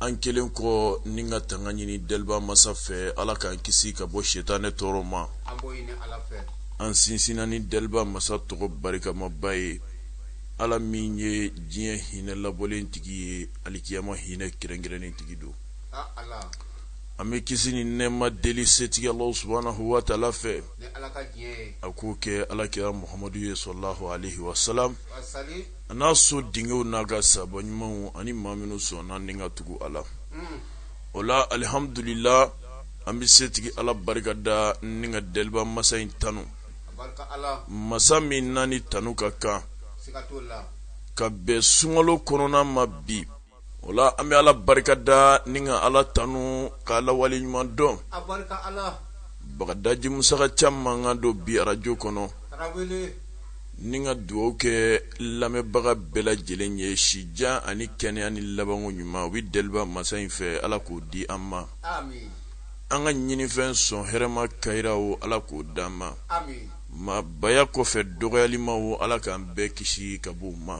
an kɛlen kɔ ni ka tanga ɲini deliba masa fɛ ala k'an kisi ka bɔ setanɛ tɔɔrɔ ma an sinsinna ni deliba masa tɔgɔ barikamaba ye ala min ye diɲɛ hinɛ labɔlen tigi ye alikiyama hinɛ kɛrɛnkɛrɛnnen tigi don an bɛ kisi ni nɛɛma deli setigi ala subahanahu wa taala fɛ a k'o kɛ ala kira muhamadu ye salalahu alaihi wasalam a n'a so denkɛw n'a ka saaba ɲumanw ani maa minnu sɔnna ni ka tugu a la o la alihamdulila an bɛ setigi ala barika da ni ka deliba masa in tanu masa min n'a ni tanu ka kan ka bɛn sunkalo kɔnɔna ma bi o la an bɛ ala barika da ni ka ala tanu k'ala waleɲuman dɔn bagadaji musa caman mankan don bi arajo kɔnɔ ni ka dugaw kɛ lamɛnbaga bɛɛ lajɛlen ye sijan ani kɛnɛya ni labanko ɲuman o bɛ deliba masa in fɛ ala k'o di an ma an ka ɲinifɛn sɔn hɛrɛma kayira o ala k'o di an ma maabaya kɔfɛ dɔgɔyalima o ala k'an bɛɛ kisi ka b'o ma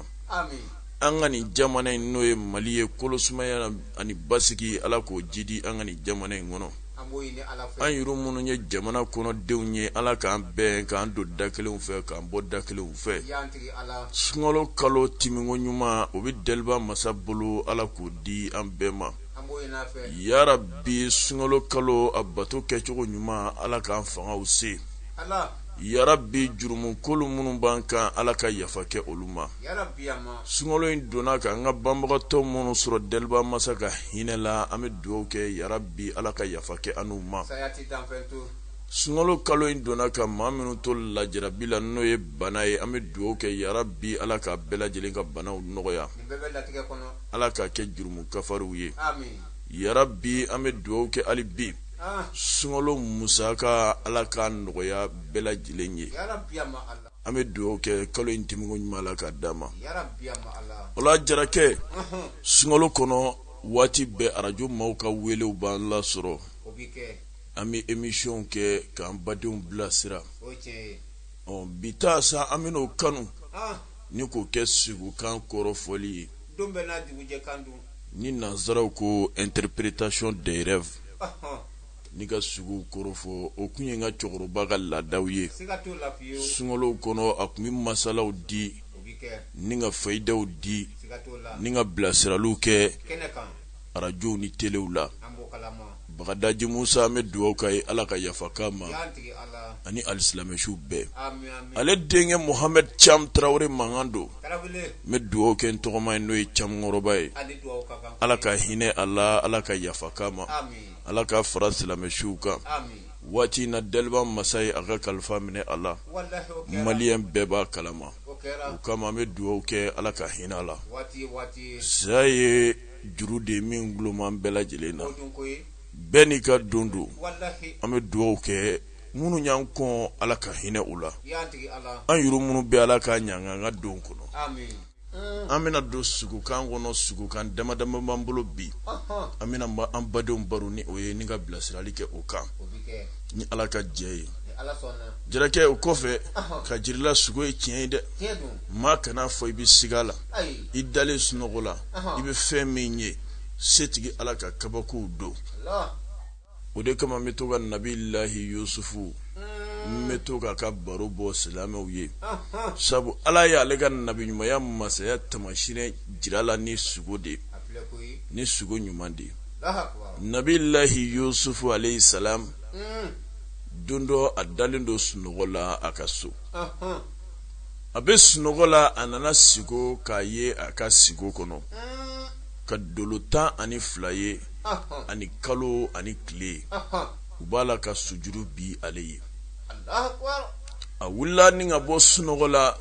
an ka nin jamana in n'o ye mali ye kolosumaya ani basigi ala k'o jidi an ka nin jamana in kɔnɔ an yɛrɛ minnu ye jamana kɔnɔdenw ye ala k'an bɛn k'an don da kelen fɛ k'an bɔ da kelen fɛ sunkalo kalo tɛmɛnko ɲuman o bɛ deliba masa bolo ala k'o di an bɛɛ ma yarabi sunkalo kalo a bato kɛcogo ɲuman ala k'an fangaw se yarabi jurumukolo minnu b'an kan ala ka yafa kɛ olu ma sunkalo in donna ka an ka banbagatɔ minnu sɔrɔ daliba masa ka hinɛ la an bɛ dugawu kɛ yarabi ala ka yafa kɛ anw ma sunkalo kalo in donna ka maa minnu to lajarabi la n'o ye bana ye an bɛ dugawu kɛ yarabi ala ka bɛɛ lajɛlen ka banaw nɔgɔya ala k'a kɛ jurumu kafariw ye yarabi an bɛ dugawu kɛ hali bi ah. sunkalo musaka ala k'a nɔgɔya bɛɛ lajɛlen ye an bɛ dugawu kɛ kalo in tɛmɛnko ɲuman ala k'a d'an ma o la jarakɛ sunkalo kɔnɔ waati bɛɛ arajo maaw ka welew b'an lasɔrɔ an bɛ emisiyɔnw kɛ k'an badenw bilasira ɔ bi ta sa an bɛn'o kanu ah. ni k'o kɛ siko kan kɔrɔfɔli ye ni nansaraw ko interpretation des rêves ni ka sugo kɔrɔ fɔ o tun ye n ka cɛkɔrɔba ka laadaw ye sunkalow kɔnɔ a tun bɛ masalaw di ni ka fayidaw di ni ka bilasiraliw kɛ arajow ni telew la bagadaji musa an bɛ dugawu k'a ye ala ka yafa k'a ma ani alisilamɛ suw bɛɛ ale denkɛ muhamɛdi cam tarawele mankan don n bɛ dugawu kɛ n tɔgɔma ye n'o ye cam kɔrɔba ye ala ka hinɛ a la ala ka yafa k'a ma ala k'a fara silamɛ suw kan waati min na daliba masa ye a ka kalifa minɛ a la maliyɛn bɛɛ b'a kalama o kama an bɛ dugawu kɛ ala ka hinɛ a la saya ye juru de min duloman bɛɛ lajɛlen na bɛɛ n'i ka don don an bɛ dugawu kɛ minnu y'an kɔn ala ka hinɛ u la an yuru minnu bɛ ala ka ɲanga an ka don kɔnɔ an bɛna don sugokan kɔnɔ sugokan damadama b'an bolo bi an bɛna an badenw baro ni o ye ni ka bilasirali kɛ o kan ni ala ka jɛ ye jarakɛ o kɔfɛ k'a jira i la sugo ye tiɲɛ ye dɛ maa kana a fɔ i bɛ siga la i dalen sunɔgɔ la i bɛ fɛn min ye setigi ala ka kabakow don o de kama n bɛ to ka nabilahi yusufu n bɛ to k'a ka baro bɔ silamɛw ye sabu ala ye ale ka nabiɲumanya masaya tamasiyɛn jira a la ni sugo de ni sugo ɲuman de nabilahi yusufu alayhi salam don dɔ a dalen don sunɔgɔ la a ka so a bɛ sunɔgɔ la a nana sigo k'a ye a ka sigo kɔnɔ ka dolo tan ani fila ye ani kalo ani tile u b'a la ka sujuru bin ale ye a wulila ni ka bɔ sunɔgɔ la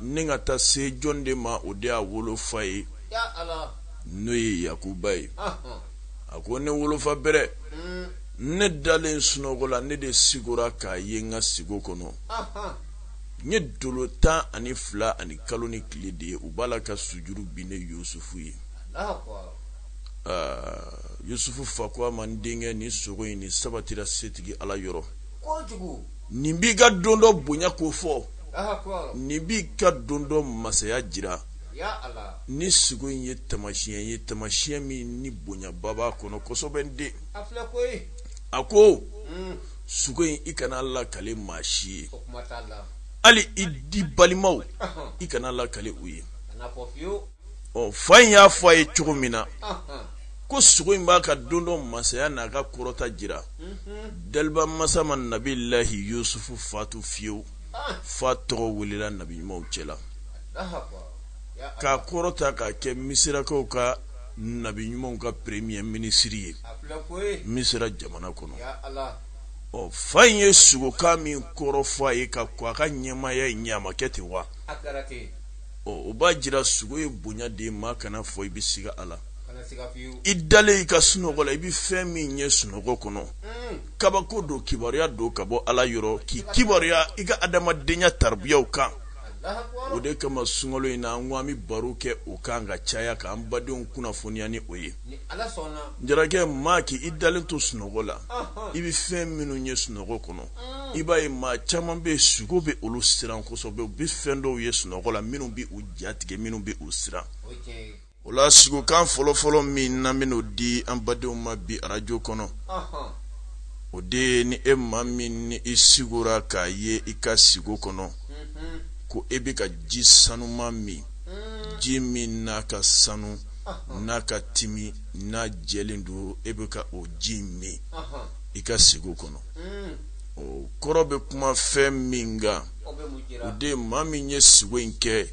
ni ka taa se jɔn de ma o de y'a wolofa ye n'o ye yakuba ye a ko ne wolofa bɛrɛ ne dalen sunɔgɔ la ne de sigora k'a ye n ka sigo kɔnɔ n ye dolo tan ani fila ani kalo ni tile de ye u b'a la ka sujuru bin ne yusufu ye yusufu fa ko a ma n denkɛ nin sugo in ni sabatira setigi ala yɔrɔ nin b'i ka don dɔ bonya kofɔ nin b'i ka don dɔ masaya jira nin sugo in ye tamasiɲɛ ye tamasiɲɛ min ni bonyaba b'a kɔnɔ kosɛbɛ n den a ko suko in i kana a lakale maa si ye hali i di balimaw i kana a lakale u ye ɔ fa in y'a fɔ a ye cogo min na ko sugo in b'a ka don dɔ masaya n'a ka kɔrɔta jira mhm. daliba masa ma nabilahi yusufu fatu fiyewu ah. f'a tɔgɔ welela nabi ɲumanw cɛla k'a kɔrɔta k'a kɛ misirakaw ka nabi ɲuman kɛ premier minisiri ye misira jamana kɔnɔ ɔ fa in ye sugokan min kɔrɔ fɔ a ye ka kɔn a ka ɲɛmaaya in ɲɛ a ma kɛ ten wa ɔ o b'a jira sugo ye bonya de ye maa kana fɔ i bɛ siga a la i dalen i ka sunɔgɔ la i bɛ fɛn min ye sunɔgɔ kɔnɔ hmm. kabako don kibaruya don ka bɔ ala yɔrɔ k'i kibaruya i ka adamadenya taribiyaw kan o de kama sunkalo in na an ko an bɛ baro kɛ o kan ka caya k'an badenw kunnafoniya ni o ye jarakɛ maa k'i dalen to sunɔgɔ la i bɛ fɛn minnu ye sunɔgɔ kɔnɔ mm. i b'a ye maa caman bɛ yen sugo bɛ olu siran kosɛbɛ u bɛ fɛn dɔw ye sunɔgɔ la minnu bɛ u jatigɛ minnu bɛ u siran o la sugokan fɔlɔfɔlɔ min n'an bɛn'o di an badenw ma bi arajo kɔnɔ o de ye ni e maa min ni i sigora k'a ye i ka sigo kɔnɔ mhm. ko e bɛ ka ji sanuman min mm. ji min n'a ka sanu n'a ka timi n'a jɛlen don e bɛ ka o ji min i ka sigo kɔnɔ mm. o kɔrɔ bɛ kuma fɛn min kan o de ye maa min ye sugo in kɛ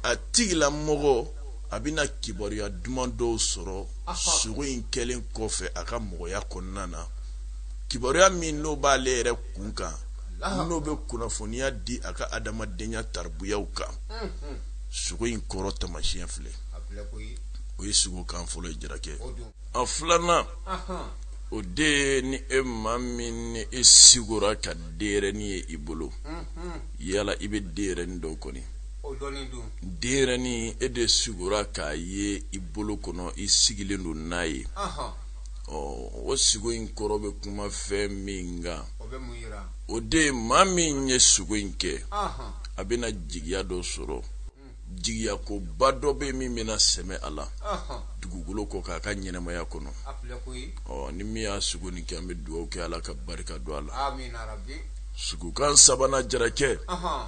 a tigilamɔgɔ a bɛna kibaruya duman dɔw sɔrɔ sugo in kɛlen kɔfɛ a ka mɔgɔya kɔnɔna na kibaruya min n'o b'ale yɛrɛ kun kan n'o bɛ kunnafoniya di a ka adamadenya taribuyaw kan sugo in kɔrɔ tamasiyɛn filɛ o ye sugokan fɔlɔ ye jarakɛ a filanan o de ye ni e maa min ni e sigora ka denyɛrɛni ye i bolo yala i bɛ denyɛrɛni dɔn kɔni o dɔnnen don denyɛrɛnin e de sigora k'a ye i bolo kɔnɔ i sigilen don n'a ye ɔhɔn ɔ o sigo in kɔrɔ bɛ kuma fɛn min kan o bɛ mun yira o de ye maa min ye sugo in kɛ ɔhɔn a bɛna jigiya dɔ sɔrɔ jigiyakoba dɔ bɛ yen min bɛna sɛmɛ a la ɔhɔn dugukolo kɔ kan a ka ɲɛnamaya kɔnɔ a filɛ koyi ɔ ni min y'a sugo nin kɛ an bɛ dugawu kɛ ala ka barika don a la amina rabi sugokan sabanan jarakɛ ɔhɔn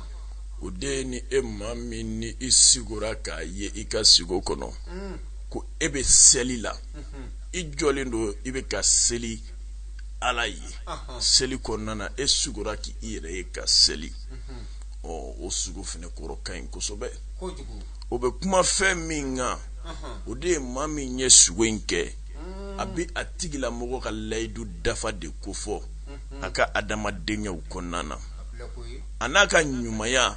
o de ye ni e maa min ni i sigora k'a ye i ka sigo kɔnɔ mm. ko e bɛ seli la mm-hmm. i jɔlen don i bɛ ka seli ala ye seli kɔnɔna na e sugora k'i yɛrɛ ye ka seli mm-hmm. ɔ o sugo fana kɔrɔ ka ɲi kosɛbɛ o bɛ kuma fɛn min kan o de ye maa min ye sugo in kɛ mm. a bɛ a tigilamɔgɔ ka layidu dafa de kofɔ mm-hmm. a ka adamadenyaw kɔnɔna na a n'a ka ɲumanya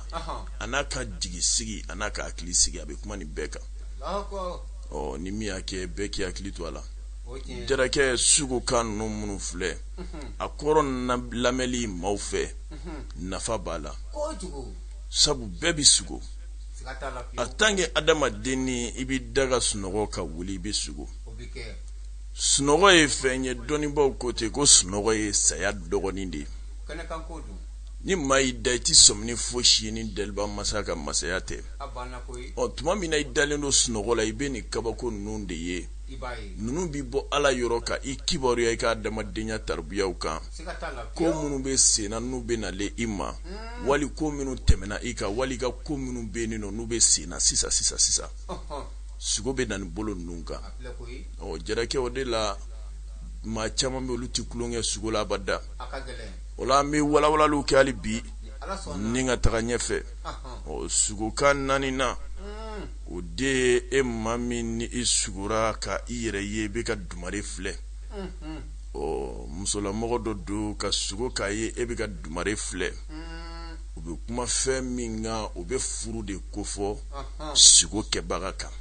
a n'a ka jigi sigi a n'a ka hakili sigi a bɛ kuma nin bɛɛ kan ɔ ni min y'a kɛ bɛɛ k'i hakili to a la jarakɛ sugokan ninnu minnu filɛ a kɔrɔ lamɛnli maaw fɛ nafa b'a la sabu bɛɛ bɛ sugo a tan kɛ adamaden ni i bɛ da ka sunɔgɔ ka wuli i bɛ sugo sunɔgɔ ye fɛn ye dɔnnibaaw ko ten ko sunɔgɔ ye saya dɔgɔnin de ye ni maa y'i da i tɛ sɔmi ni fosi ye ni daliba masa ka masaya tɛ ɔ tuma min na i dalen don sunɔgɔ la i bɛ nin kabako ninnu de ye ninnu bɛ bɔ ala yɔrɔ ka i kibaruya i ka adamadenya tarabiyaw kan ko minnu bɛ senna n'u bɛ nalen i ma hmm. wali ko minnu tɛmɛna i kan wali i ka ko minnu bɛ yen nɔ n'u bɛ senna sisan sisan sisan sugo bɛ na nin bolo ninnu kan ɔ jarakɛ o de la maa caman bɛ olu tɛ tulon kɛ sugo la abada o la an bɛ walawalaliw kɛ hali bi ni ka taga ɲɛfɛ ɔ sugokan naaninan mm. o de ye e maa min ni i sugora ka i yɛrɛ ye i bɛ ka dumare filɛ mm-hmm. ɔ musolamɔgɔ dɔ don ka sugo k'a ye e bɛ ka dumare filɛ mm. o bɛ kuma fɛn min kan o bɛ furu de kofɔ sugo kɛbaga kan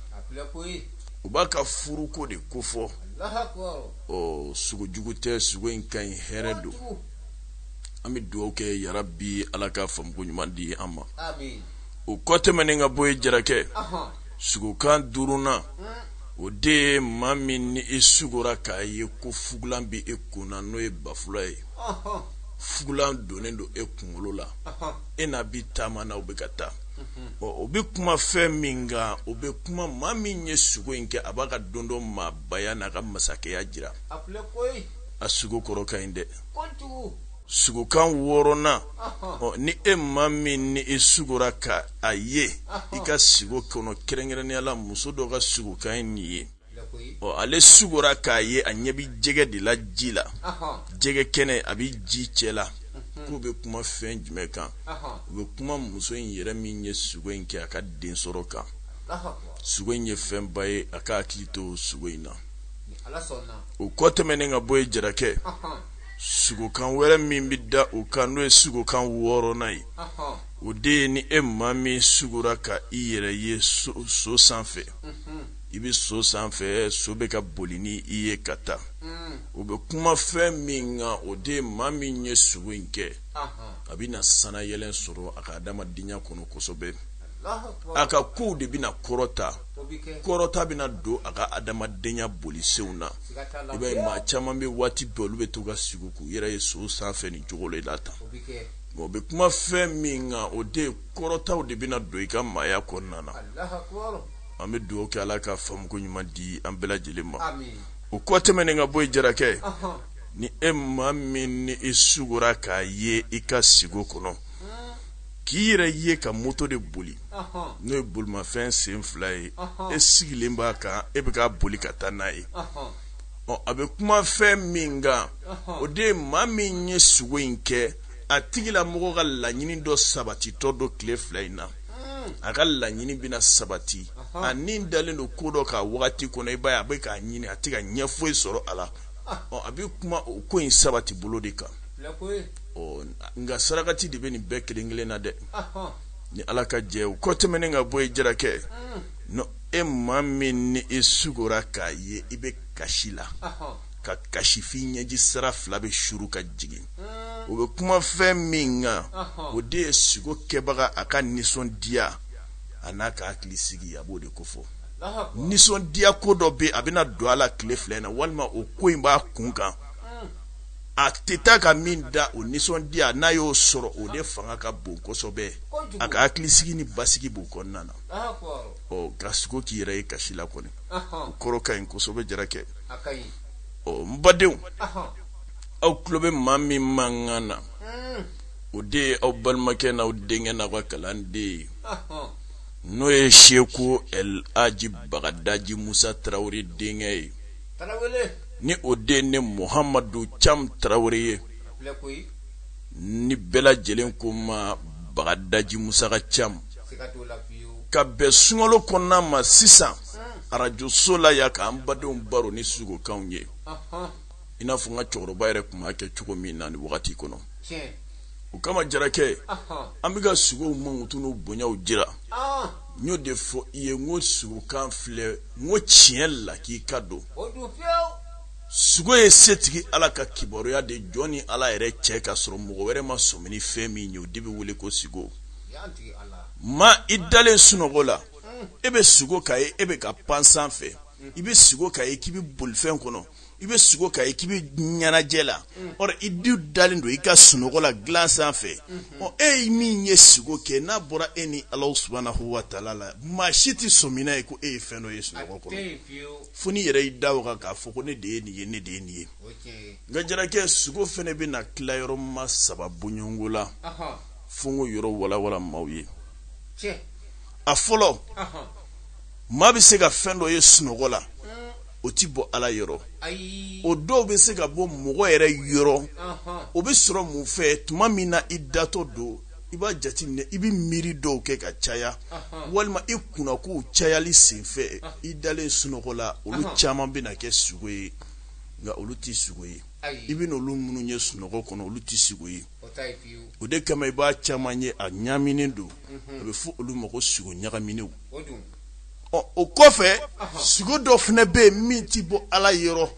o b'a ka furuko de kofɔ ɔ sugo jugu tɛ sugo in ka ɲi hɛrɛ don an bɛ dugawu kɛ yarabi ala ka faamuko ɲuman di an ma o kɔ tɛmɛnen ka bɔ yen jarakɛ sugokan duurunan hmm. o de ye maa min ni i sugora k'a ye ko fugulan bɛ e kun na n'o ye bafula ye fugulan donnen don e kunkolo la e n'a bi taama na o bɛ ka taa o bɛ kuma fɛn min kan o bɛ kuma maa min ye sugo in kɛ a b'a ka don dɔ maa baya n'a ka masakɛya jira a sugo kɔrɔ ka ɲi dɛ sugokan wɔɔrɔnan ni e maa min ni e sugora ka a ye i ka sugo kɔnɔ kɛrɛnkɛrɛnnenya la muso dɔ ka sugokan ye nin ye ɔ ale sugora k'a ye a ɲɛ bi jɛgɛ de la ji la jɛgɛ kɛnɛ a bi ji cɛ la mhm. k'u bɛ kuma fɛn jumɛn kan u bɛ kuma muso in yɛrɛ min ye sugo in kɛ a ka den sɔrɔ kan sugo in ye fɛnba ye a ka hakili to sugo in na o kɔ tɛmɛnen ka bɔ yen jarakɛ sugokan wɛrɛ min bɛ da o kan n'o ye sugokan wɔɔrɔnan ye o de ye ni e maa min sugora ka i yɛrɛ ye so sanfɛ mhm. i bɛ so sanfɛ so bɛ ka boli ni i ye ka taa mm. o bɛ kuma fɛn min kan o de ye maa min ye sugo in kɛ a bɛ na sanayɛlɛn sɔrɔ a ka adamadenya kɔnɔ kosɛbɛ a ka kow de bɛna kɔrɔta kɔrɔta bɛna don a ka adamadenya bolisenw na i b'a ye maa caman bɛ waati bɛɛ olu bɛ to ka sugo k'u yɛrɛ ye so sanfɛ nin cogo la tan o bɛ kuma fɛn min kan o de kɔrɔtaw de bɛna don i ka maaya kɔnɔna na an bɛ dugawu kɛ ala ka faamuko ɲuman di an bɛɛ lajɛlen ma o kɔ tɛmɛnen ka bɔ ye jarakɛ ni e maa min ni i sugora k'a ye i ka sugo kɔnɔ k'i yɛrɛ ye ka moto de boli n'o ye bolimafɛn sen fila ye e sigilen b'a kan e bɛ ka boli ka taa n'a ye ɔ a bɛ kuma fɛn min kan o de ye maa min ye sugo in kɛ a tigilamɔgɔ ka laɲini dɔ sabatitɔ don tile fila in na hmm. a ka laɲini bɛna sabati a ni dalen don ko dɔ kan wagati kɔnɔ i b'a ye a bɛ k'a ɲini a tɛ ka ɲɛ foyi sɔrɔ a la a bɛ kuma o ko in sabati bolo de kan nka sarakati de bɛ nin bɛɛ kelen kelen na dɛ ni ala ka jɛ o kɔ tɛmɛnen ka bɔ ye jarakɛ ni e maa min ni e sugora k'a ye i bɛ kasi la ka kasi f'i ɲɛji sira fila bɛ suru ka jigin o bɛ kuma fɛn min kan o de ye sugo kɛbaga a ka nisɔndiya a n'a ka hakili sigi a b'o de kofɔ nisɔndiya ko dɔ bɛ a bɛna don a la tile fila in na walima o ko in b'a kun kan a tɛ taa ka min dan o nisɔndiya n'a y'o sɔrɔ o de fanga ka bon kosɛbɛ a ka hakilisigi ni basigi b'o kɔnɔna na ɔ ka sugo k'i yɛrɛ ye kasi la kɔni o kɔrɔ ka ɲi kosɛbɛ jarakɛ ɔ n badenw aw tulo bɛ maa min mankan na hmm. o de ye aw balimakɛ n'aw denkɛ n'aw ka kalanden ye n'o ye seku el aji bagadaji musa tarawele denkɛ ye ni o de ne muhamadu cam tarawele ye ni bɛɛ lajɛlen ko ma bagadaji musa ka cam ka bɛn sunkalo kɔnɔna ma sisan arajoso la yan k'an badenw baro ni sugokanw ye i n'a fɔ n ka cɛkɔrɔba yɛrɛ tun b'a kɛ cogo min na ni wagati kɔnɔ o kama jarakɛ an bɛ ka sugow mankutu n'u bonyaw jira n y'o de fɔ i ye n ko sugokan filɛ n ko tiɲɛ la k'i k'a dɔn sugo ye setigi ala ka kibaruya de jɔn ni ala yɛrɛ cɛ k'a sɔrɔ mɔgɔ wɛrɛ ma sɔmi ni fɛn min ye o de bɛ wele ko sugo ma i dalen sunɔgɔ la e bɛ sugo k'a ye e bɛ ka pan sanfɛ i bɛ sugo k'a ye k'i bɛ bolifɛn kɔnɔ i bɛ sugo k'a ye k'i bɛ ɲɛnajɛ la ɔ i dun dalen don i ka sunɔgɔ la dilan sanfɛ ɔ e ye min ye sugo kɛ n'a bɔra e ni ala subahana wa taala la maa si tɛ sɔmi n'a ye ko e ye fɛn dɔ ye sunɔgɔ kɔnɔ fo n'i yɛrɛ y'i da o kan k'a fɔ ko ne de ye nin ye ne de ye nin ye nka jarakɛ sugo fana bɛ na tila yɔrɔ ma saba bɔ ɲɔgɔn la fo n k'o yɔrɔ walawala maaw ye a fɔlɔ maa bɛ se ka fɛn dɔ ye sunɔgɔ la o ti bɔ ala yɔrɔ o dɔw bɛ se ka bɔ mɔgɔ yɛrɛ yɔrɔ o bɛ sɔrɔ mun fɛ tuma min na i datɔ don i b'a jateminɛ i bɛ miiri dɔw kɛ ka caya walima i kunnakow cayali senfɛ i dalen sunɔgɔ la olu caman bɛ na kɛ sugo ye nka olu tɛ sugo ye i bɛ n'olu minnu ye sunɔgɔ kɔnɔ olu tɛ sugo ye o de kama i b'a caman ye a ɲaaminen don a bɛ fɔ olu ma ko sugo ɲagaminenw ɔ o kɔfɛ sugo dɔ fana bɛ yen min ti bɔ ala yɔrɔ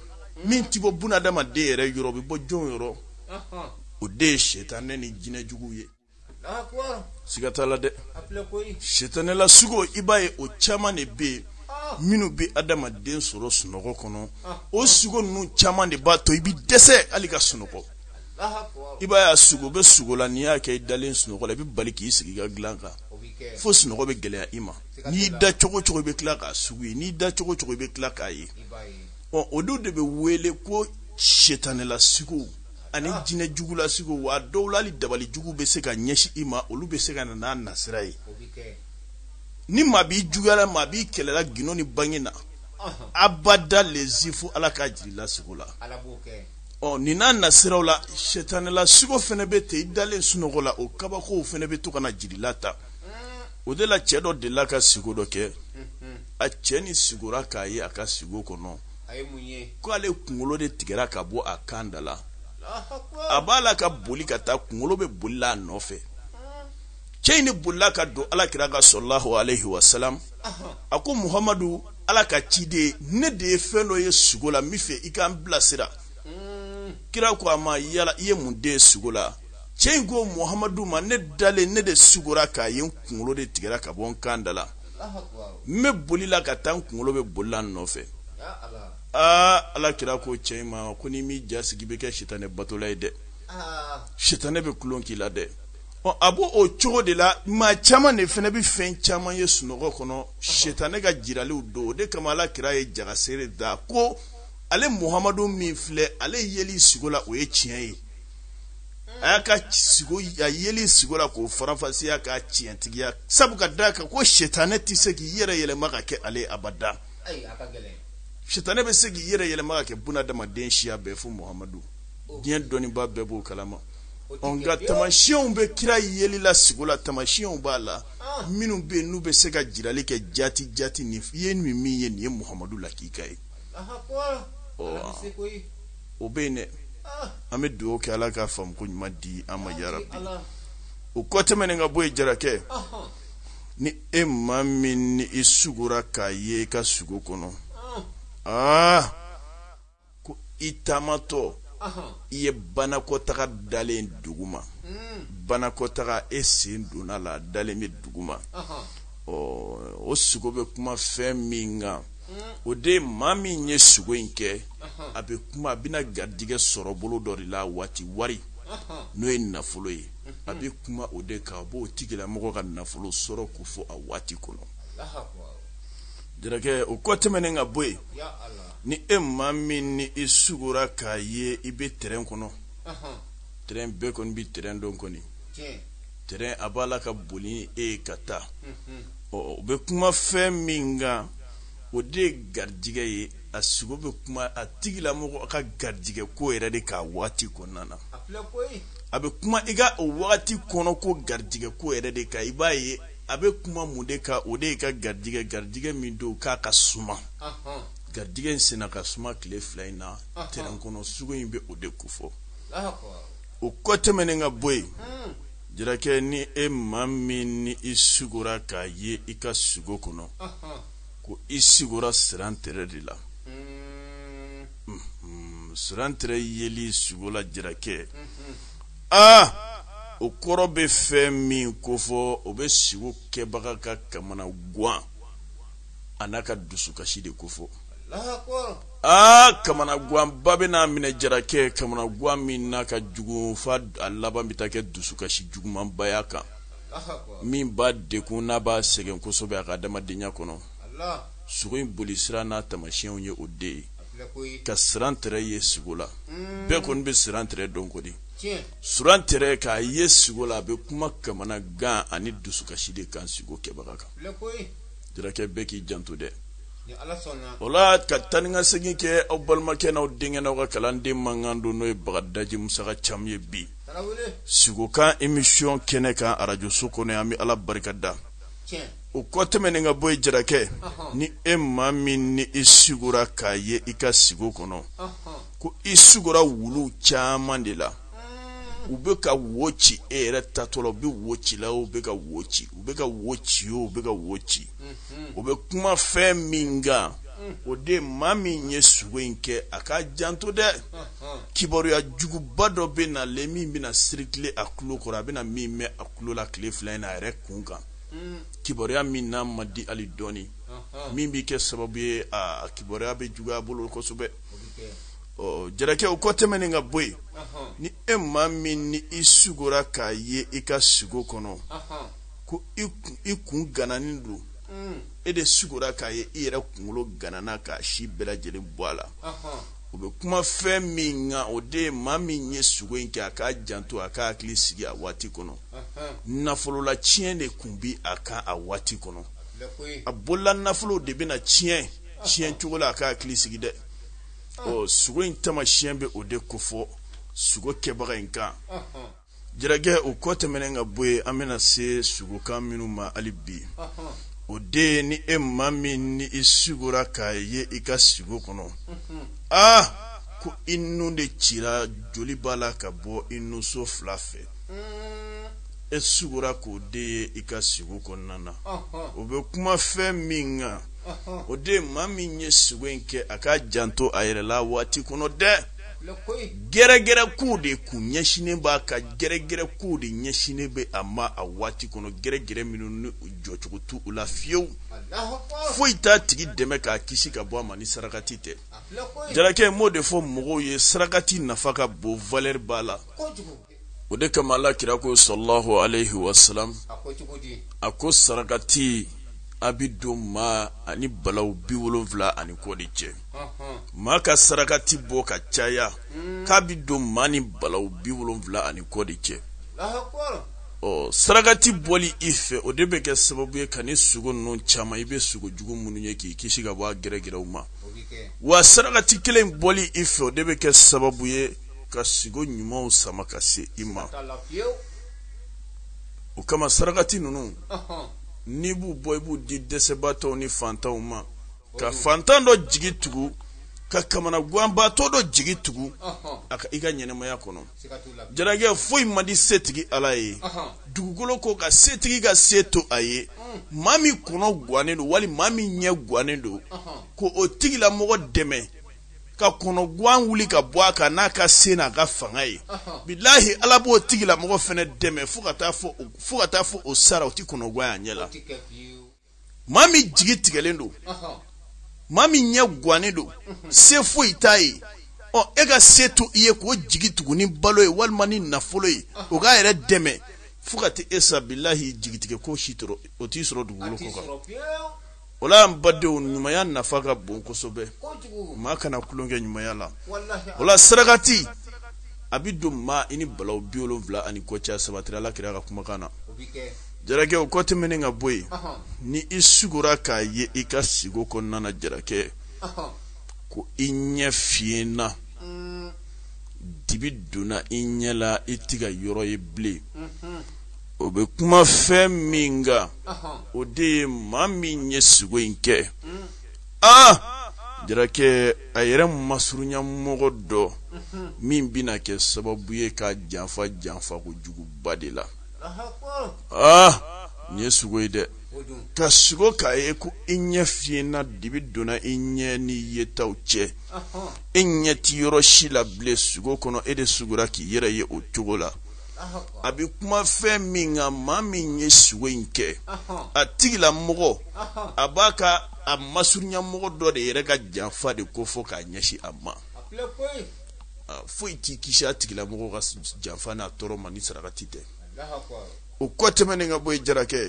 min ti bɔ bunadamaden yɛrɛ yɔrɔ o bɛ bɔ jɔn yɔrɔ o de ye setanɛ ni jinɛ juguw ye siga t'a la dɛ setanɛla sugo i b'a ye o caman de bɛ yen minnu bɛ adamaden sɔrɔ sunɔgɔ kɔnɔ o sugo ninnu caman de b'a to i bɛ dɛsɛ hali ka sunɔgɔ i b'a ye a sugu bɛ sugo la n'i y'a kɛ i dalen sunɔgɔ la i bɛ bali k'i sigi i ka dilan kan fo sunɔgɔ bɛ gɛlɛya i ma n'i da cogo cogo i bɛ tila k'a sugu ye n'i da cogo cogo i bɛ tila k'a ye ɔ o dɔw de bɛ wele ko setanɛla sugow ani ah. jinɛ jugula sugow wa dɔw la hali dabali jugu bɛ se ka ɲɛsin i ma olu bɛ se ka na n'a nasira ye ni maa b'i juguyala maa b'i kɛlɛla gundo ni bange na abada lezi fo ala k'a jir'i la sugo la ɔ nin n'a nasiraw la setanɛla sugo fana bɛ ten i dalen sunɔgɔ la o kabakow fana bɛ to ka na jir'i la ta o de la cɛ dɔ delila ka sugo dɔ kɛ a cɛ nin sugora k'a ye a ka sugo kɔnɔ ko ale kunkolo de tigɛra ka bɔ a kan da la a b'a la ka boli ka taa kunkolo bɛ boli la a nɔfɛ cɛ in ne bolila ka don ala kira kan salalahu alayhi wa salam a ko muhamadu ala ka ciden ne de ye fɛn dɔ ye sugo la n b'a fɛ i ka n bilasira kira ko a ma yala i ye mun de ye sugo la cɛ in ko muhamadu ma ne dalen ne de sugora k'a ye n kunkolo de tigɛra ka bɔ n kan da la n bɛ boli la ka taa n kunkolo bɛ boli la n nɔfɛ aa ala kira ko cɛ in ma ko n'i m'i ja sigi i bɛ kɛ sitanɛ batola ye dɛ sitanɛ bɛ tulon k'i la dɛ ɔ a b'o cogo de la maa caman de fana bɛ fɛn caman ye sunɔgɔ kɔnɔ sitanɛ ka jiraliw don o de kama ala kira ye jagasere da ko ale muhamadu min filɛ ale yeli sugo la o ye tiɲɛ ye a y'a ka sigo a yeli sigo la k'o faranfasiya k'a tiɲɛtigiya sabu ka d'a kan ko sɛtanɛ tɛ se k'i yɛrɛ yɛlɛma ka kɛ ale abada sɛtanɛ bɛ se k'i yɛrɛ yɛlɛma ka kɛ bunadamaden siya bɛɛ fo muhamadu oh. diɲɛ dɔnnibaa bɛɛ b'o kalama nka tamasiyɛnw bɛ kira yeli la sigo la tamasiyɛnw b'a la ah. minnu bɛ yen n'u bɛ se ka jirali kɛ jati jati nin i ye nin min ye nin ye muhamadu lakika ye o bɛ yen dɛ an bɛ dugawu kɛ ala ka faamu ko ɲuman di an ma yarabi o kɔ tɛmɛnen ka bɔ yen jarakɛ ni e maa min ni i sugora k'a ye i ka sugo kɔnɔ aa ah! ko i taamatɔ i ye banakɔtaga dalen dugu ma hmm. banakɔtaga e sen donn'a la dalen bɛ dugu ma ɔ o sugo bɛ kuma fɛn min kan o de maa min ye sugo in kɛ a bɛ kuma a bɛna garijɛgɛ sɔrɔ bolo dɔ de la waati wari n'o ye nafolo ye a bɛ kuma o de kan a b'o tigilamɔgɔ ka nafolo sɔrɔ ko fɔ a waati kɔnɔ jarakɛ o kɔ tɛmɛnen ka bɔ yen ni e maa min ni i sugora k'a ye i bɛ tɛrɛn kɔnɔ tɛrɛn bɛɛ kɔni bɛ tɛrɛn dɔn kɔni tɛrɛn a b'a la ka boli ni e ye ka taa ɔ o bɛ kuma fɛn min kan o de ye garijigɛ ye a sugo bɛ kuma a tigilamɔgɔ ka garijigɛ ko yɛrɛ de kan a waati kɔnɔna na a bɛ kuma i ka o waati kɔnɔ ko garijigɛ ko yɛrɛ de kan i b'a ye a bɛ kuma mun de kan o de ye ka garijigɛ garijigɛ min don k'a ka suma garijigɛ in senna ka suma tile fila in na tɛrɛn kɔnɔ sugo in bɛ o de ko fɔ o kɔ tɛmɛnen ka bɔ yen jarakɛ ni e maa min ni i sugora k'a ye i ka sugo kɔnɔ ko i sigora sirantɛrɛ de la sirantɛrɛ yeli sugo la jarakɛ aa o kɔrɔ bɛ fɛn min ko fɔ o bɛ sigo kɛbaga ka kamanagan a n'a ka dusukasi de ko fɔ aa kamanaganba bɛn'a minɛ jarakɛ kamanagan min n'a ka jugu fo a laban bɛ taa kɛ dusukasi jugumanba y'a kan min b'a dekun n'a b'a sɛgɛn kosɛbɛ a ka adamadenya kɔnɔ sugo in boli sira n'a tamasiyɛnw ye o de ye ka sirantɛrɛ ye sigo la bɛɛ kɔni bɛ sirantɛrɛ dɔn kɔni sirantɛrɛ k'a ye sigo la a bɛ kuma kamanagan ani dusukasi de kan sigo kɛbaga kan jarakɛ bɛɛ k'i janto dɛ o la ka taa ni ka segin kɛ aw balimakɛ n'aw denkɛ n'aw ka kalanden mankan don n'o ye bagadaji musaka caman ye bi sigokan emisiyɔn kɛnɛ kan arajoso kɔnɔ an bɛ ala barika da o kɔ tɛmɛnen ka bɔ yen jarakɛ ni e maa min ni i sigora k'a ye i ka sigo kɔnɔ ko i sigora wulu caman de la u bɛ ka wo ci e yɛrɛ tatɔla u bɛ wo cila u bɛ ka wo ci u bɛ ka wo ci o u bɛ ka wo ci o bɛ kuma fɛn min kan o de maa min ye sugo in kɛ a ka janto dɛ kibaruya juguba dɔ bɛ na le min bɛna sirikile a tulo kɔrɔ a bɛna min mɛn a tulo la tile fila in na a yɛrɛ kun kan kibaruya min n'a man di hali dɔɔni min bɛ kɛ sababu ye a kibaruya bɛ juguya a bolo kosɛbɛ ɔ jarakɛ o kɔ tɛmɛnen ka bɔ yen ni e maa min ni i sugora k'a ye i ka sugo kɔnɔ ko i kun gananin don mm. e de sugora k'a ye i yɛrɛ kunkolo ganana k'a si bɛɛ lajɛlen bɔ a la u bɛ kuma fɛn min kan o de ye maa min ye sugo in kɛ a k'a janto a k'a hakili sigi a waati kɔnɔ nafolola tiɲɛ de kun bi a kan a waati kɔnɔ a bolola nafolo de bɛna tiɲɛ tiɲɛ cogo la a k'a hakili sigi dɛ ɔ sugo in tamasiyɛn bɛ o de kofɔ sugo kɛbaga in kan jarakɛ o kɔ tɛmɛnen ka bɔ yen an bɛna se sugokan minnu ma hali bi o de ye ni e maa min ni i sugora k'a ye i ka sugo kɔnɔ aa ko i nun de cira joli b'a la ka bɔ i nunso fila fɛ e sugora k'o de ye i ka sugo kɔnɔna na o bɛ kuma fɛn min kan o de maa min ye sugo in kɛ a ka janto a yɛrɛ la waati kɔnɔ dɛ gɛrɛgɛrɛ kow de kun ɲɛsinnen b'a ka gɛrɛgɛrɛ kow de ɲɛsinnen bɛ a ma a waati kɔnɔ gɛrɛgɛrɛ minnu ni jɔcogo t'u la fiyewu foyi t'a tigi dɛmɛ k'a kisi ka bɔ a ma ni sarakati tɛ jarakɛ m'o de fɔ mɔgɔw ye sarakati nafa ka bon valɛri b'a la o de kama ala kira ko sallallahu alayhi wa sallam a ko sarakati a bi don maa ani balaw bi wolonfila ani kɔ de cɛ maa ka sarakati bɔ ka caya hmm. k'a bi don maa ni balaw bi wolonfila ani kɔ de cɛ ɔ sarakati bɔli i fɛ o de bɛ kɛ sababu ye ka ni sugo ninnu caman i bɛ sugo jugu minnu ye k'i kisi ka bɔ a gɛrɛgɛrɛw ma wa sarakati kelen bɔli i fɛ o de bɛ kɛ sababu ye ka sugo ɲumanw sama ka se i ma o kama sarakati ninnu n'i b'u bɔ i b'u di dɛsɛbaatɔw ni fantanw ma ka fantan dɔ jigi tugu ka kamanaganbaatɔ dɔ jigi tugu a ka i ka ɲɛnamaya kɔnɔ jarakɛ foyi man di setigi ala ye dugukolo kɔ kan setigi ka se to a ye mm. maa min kɔnɔ gannen don wali maa min ɲɛ gannen don ko o tigilamɔgɔ dɛmɛ ka kɔnɔguan wuli ka bɔ a kan n'a ka se n'a ka fanga ye bilahi ala b'o tigila mɔgɔ fɛnɛ dɛmɛ fo ka taa fɔ o sara o ti kɔnɔguan y'a ɲɛ la maa min jigi tigɛlen don maa min ɲɛ guannen don se foyi t'a ye ɔ e ka se to i ye k'o jigi tugu ni balo ye walima ni nafolo ye o k'a yɛrɛ dɛmɛ fo ka taa e sa bilahi jigitigɛ ko si tɔɔrɔ o t'i sɔrɔ dugukolo kɔ kan o la an badenw ɲumanya nafa ka bon kosɛbɛ maa kana tulonkɛ ɲumanya la o la sarakati a bɛ don maa i ni balawu bi wolonwula ani kɔ cɛ a sabatira ala kira ka kumakan na jarakɛ o kɔ tɛmɛnen ka bɔ yen ni i sugora k'a ye i ka siko kɔnɔna na jarakɛ ko i ɲɛ fiyɛnna mm. dibi donna i ɲɛ la i tɛ ka yɔrɔ ye bilen mm-hmm. o bɛ kuma fɛn min kan o de ye maa min ye sugo in kɛ aa jarakɛ a yɛrɛ masurunya mɔgɔ dɔ min bɛna kɛ sababu ye k'a janfa janfa ko juguba de la aa nin ye sugo ye dɛ ka sugo k'a ye ko i ɲɛ fiyɛnna dibi donna i ɲɛ ni yetaw cɛ e ɲɛ ti yɔrɔ si la bilen sugo kɔnɔ e de sugora k'i yɛrɛ ye o cogo la a bɛ kuma fɛn min kan maa min ye sugo in kɛ a tigila mɔgɔ a b'a ka a masurunya mɔgɔ dɔ de yɛrɛ ka janfa de kofɔ k'a ɲɛsin a ma foyi t'i kisi a tigila mɔgɔ ka janfa n'a tɔɔrɔ ma ni sarakati tɛ o kɔ tɛmɛnen ka bɔ yen jarakɛ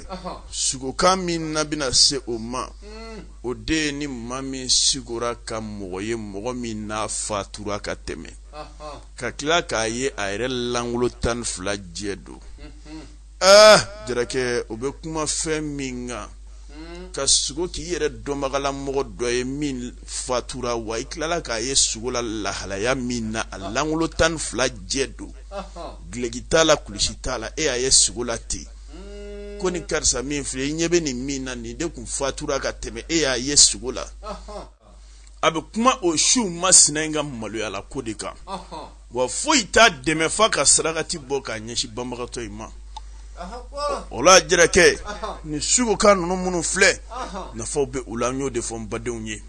sugokan min n'an bɛna se o ma hmm. o de ye ni maa min sugora ka mɔgɔ ye mɔgɔ min n'a fatura ka tɛmɛ ka tila k'a ye a yɛrɛ langolo tan ni fila jɛ don aa ah, jarakɛ o bɛ kuma fɛn min kan ka sugo k'i yɛrɛ dɔnbagala mɔgɔ dɔ ye min fatura wa i tilala k'a ye sugo la lahalaya min na a langolo tan ni fila jɛ don gileki t'a la kulusi t'a la e y'a ye sugo la ten ko ni karisa min filɛ i ɲɛ bɛ nin min na nin de tun fatura ka tɛmɛ e y'a ye sugo la a bɛ kuma o su masina in ka maloyala ko de kan wa foyi t'a dɛmɛ f'a ka sarakati bɔ k'a ɲɛsin banbagatɔ in ma o la jarakɛ nin sugokan ninnu minnu filɛ nafaw bɛ u la n y'o de fɔ n badenw ye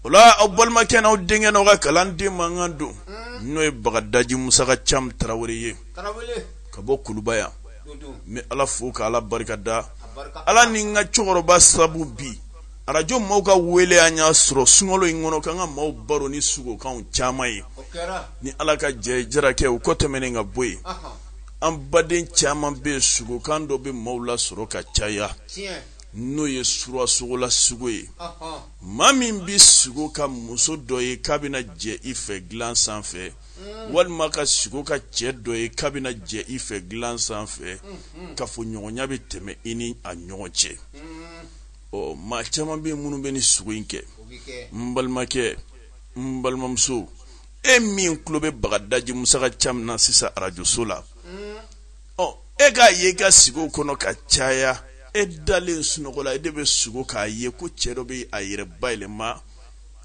o la aw balimakɛ n'aw denkɛ n'aw ka kalanden mankan don n'o ye bagadaji musaka cam tarawele ye ka bɔ kuluba yan n bɛ ala fo ka ala barika da ala ni n ka cɛkɔrɔba sabu bi arajo maaw ka weele an y'a sɔrɔ sunkalo in kɔnɔ k'an ka maaw baro ni sugokanw caman ye ni ala ka jɛ jarakɛ o kɔ tɛmɛnen ka bɔ yen an baden caman bɛ yen sugokan dɔ bɛ maaw la sɔrɔ ka caya n'o ye surasogola sugo ye maa min bɛ sugo ka muso dɔ ye k'a bɛna jɛ i fɛ dilan sanfɛ mm. walima ka sugo ka cɛ dɔ ye k'a bɛna jɛ i fɛ dilan sanfɛ mm-hmm. kafoɲɔgɔnya bɛ tɛmɛ i ni a ɲɔgɔn cɛ mm. ɔ maa caman bɛ yen minnu bɛ nin sugo in kɛ n balimakɛ n balimamuso e min tulo bɛ bagadaji musaka cam na sisan arajoso la ɔ e k'a ye i ka sugo kɔnɔ ka caya e dalen sunɔgɔ la e de bɛ sugo k'a ye ko cɛ dɔ bɛ a yɛrɛ bayɛlɛma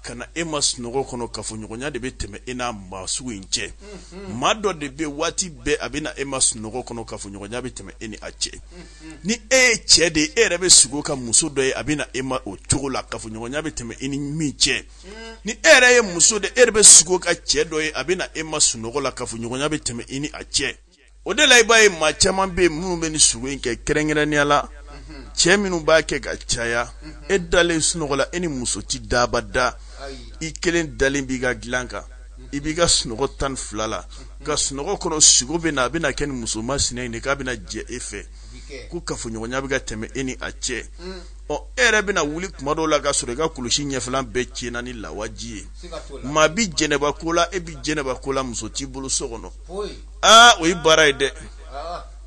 ka na e ma sunɔgɔ kɔnɔ kafoɲɔgɔnya de bɛ tɛmɛ e n'a maa sugu in cɛ mm-hmm. maa dɔ de bɛ waati bɛɛ a bɛ na e ma sunɔgɔ kɔnɔ kafoɲɔgɔnya bɛ tɛmɛ e ni a cɛ mm-hmm. ni e ye cɛ de ye e yɛrɛ bɛ sugo ka muso dɔ ye a bɛ na e ma o cogo la kafoɲɔgɔnya bɛ tɛmɛ e ni min cɛ mm-hmm. ni e yɛrɛ ye muso de e yɛrɛ bɛ sugo ka cɛ dɔ ye a bɛ na e ma sunɔgɔ la kafoɲɔgɔnya bɛ tɛmɛ e ni a cɛ o de la i b'a ye maa caman bɛ yen minnu bɛ nin sugo in kɛ kɛrɛnkɛrɛnnenya la cɛ minnu b'a kɛ ka caya e dalen sunɔgɔ la e ni muso ti da abada i kelen dalen b'i ka dilan kan i b'i ka sunɔgɔ tan ni fila la ka sunɔgɔ kɔnɔ sugo bɛ na a bɛna kɛ ni muso masina in de k'a bɛna jɛ e fɛ ko kafoɲɔgɔnya bɛ ka tɛmɛ e ni a cɛ ɔ e yɛrɛ bɛna wuli kuma dɔw la ka sɔrɔ i ka kulusi ɲɛfɛla bɛɛ tiɲɛna ni lawaji ye maa bi jɛnɛba ko la e bi jɛnɛba ko la muso t'i bolo so kɔnɔ aa o ye baara ye dɛ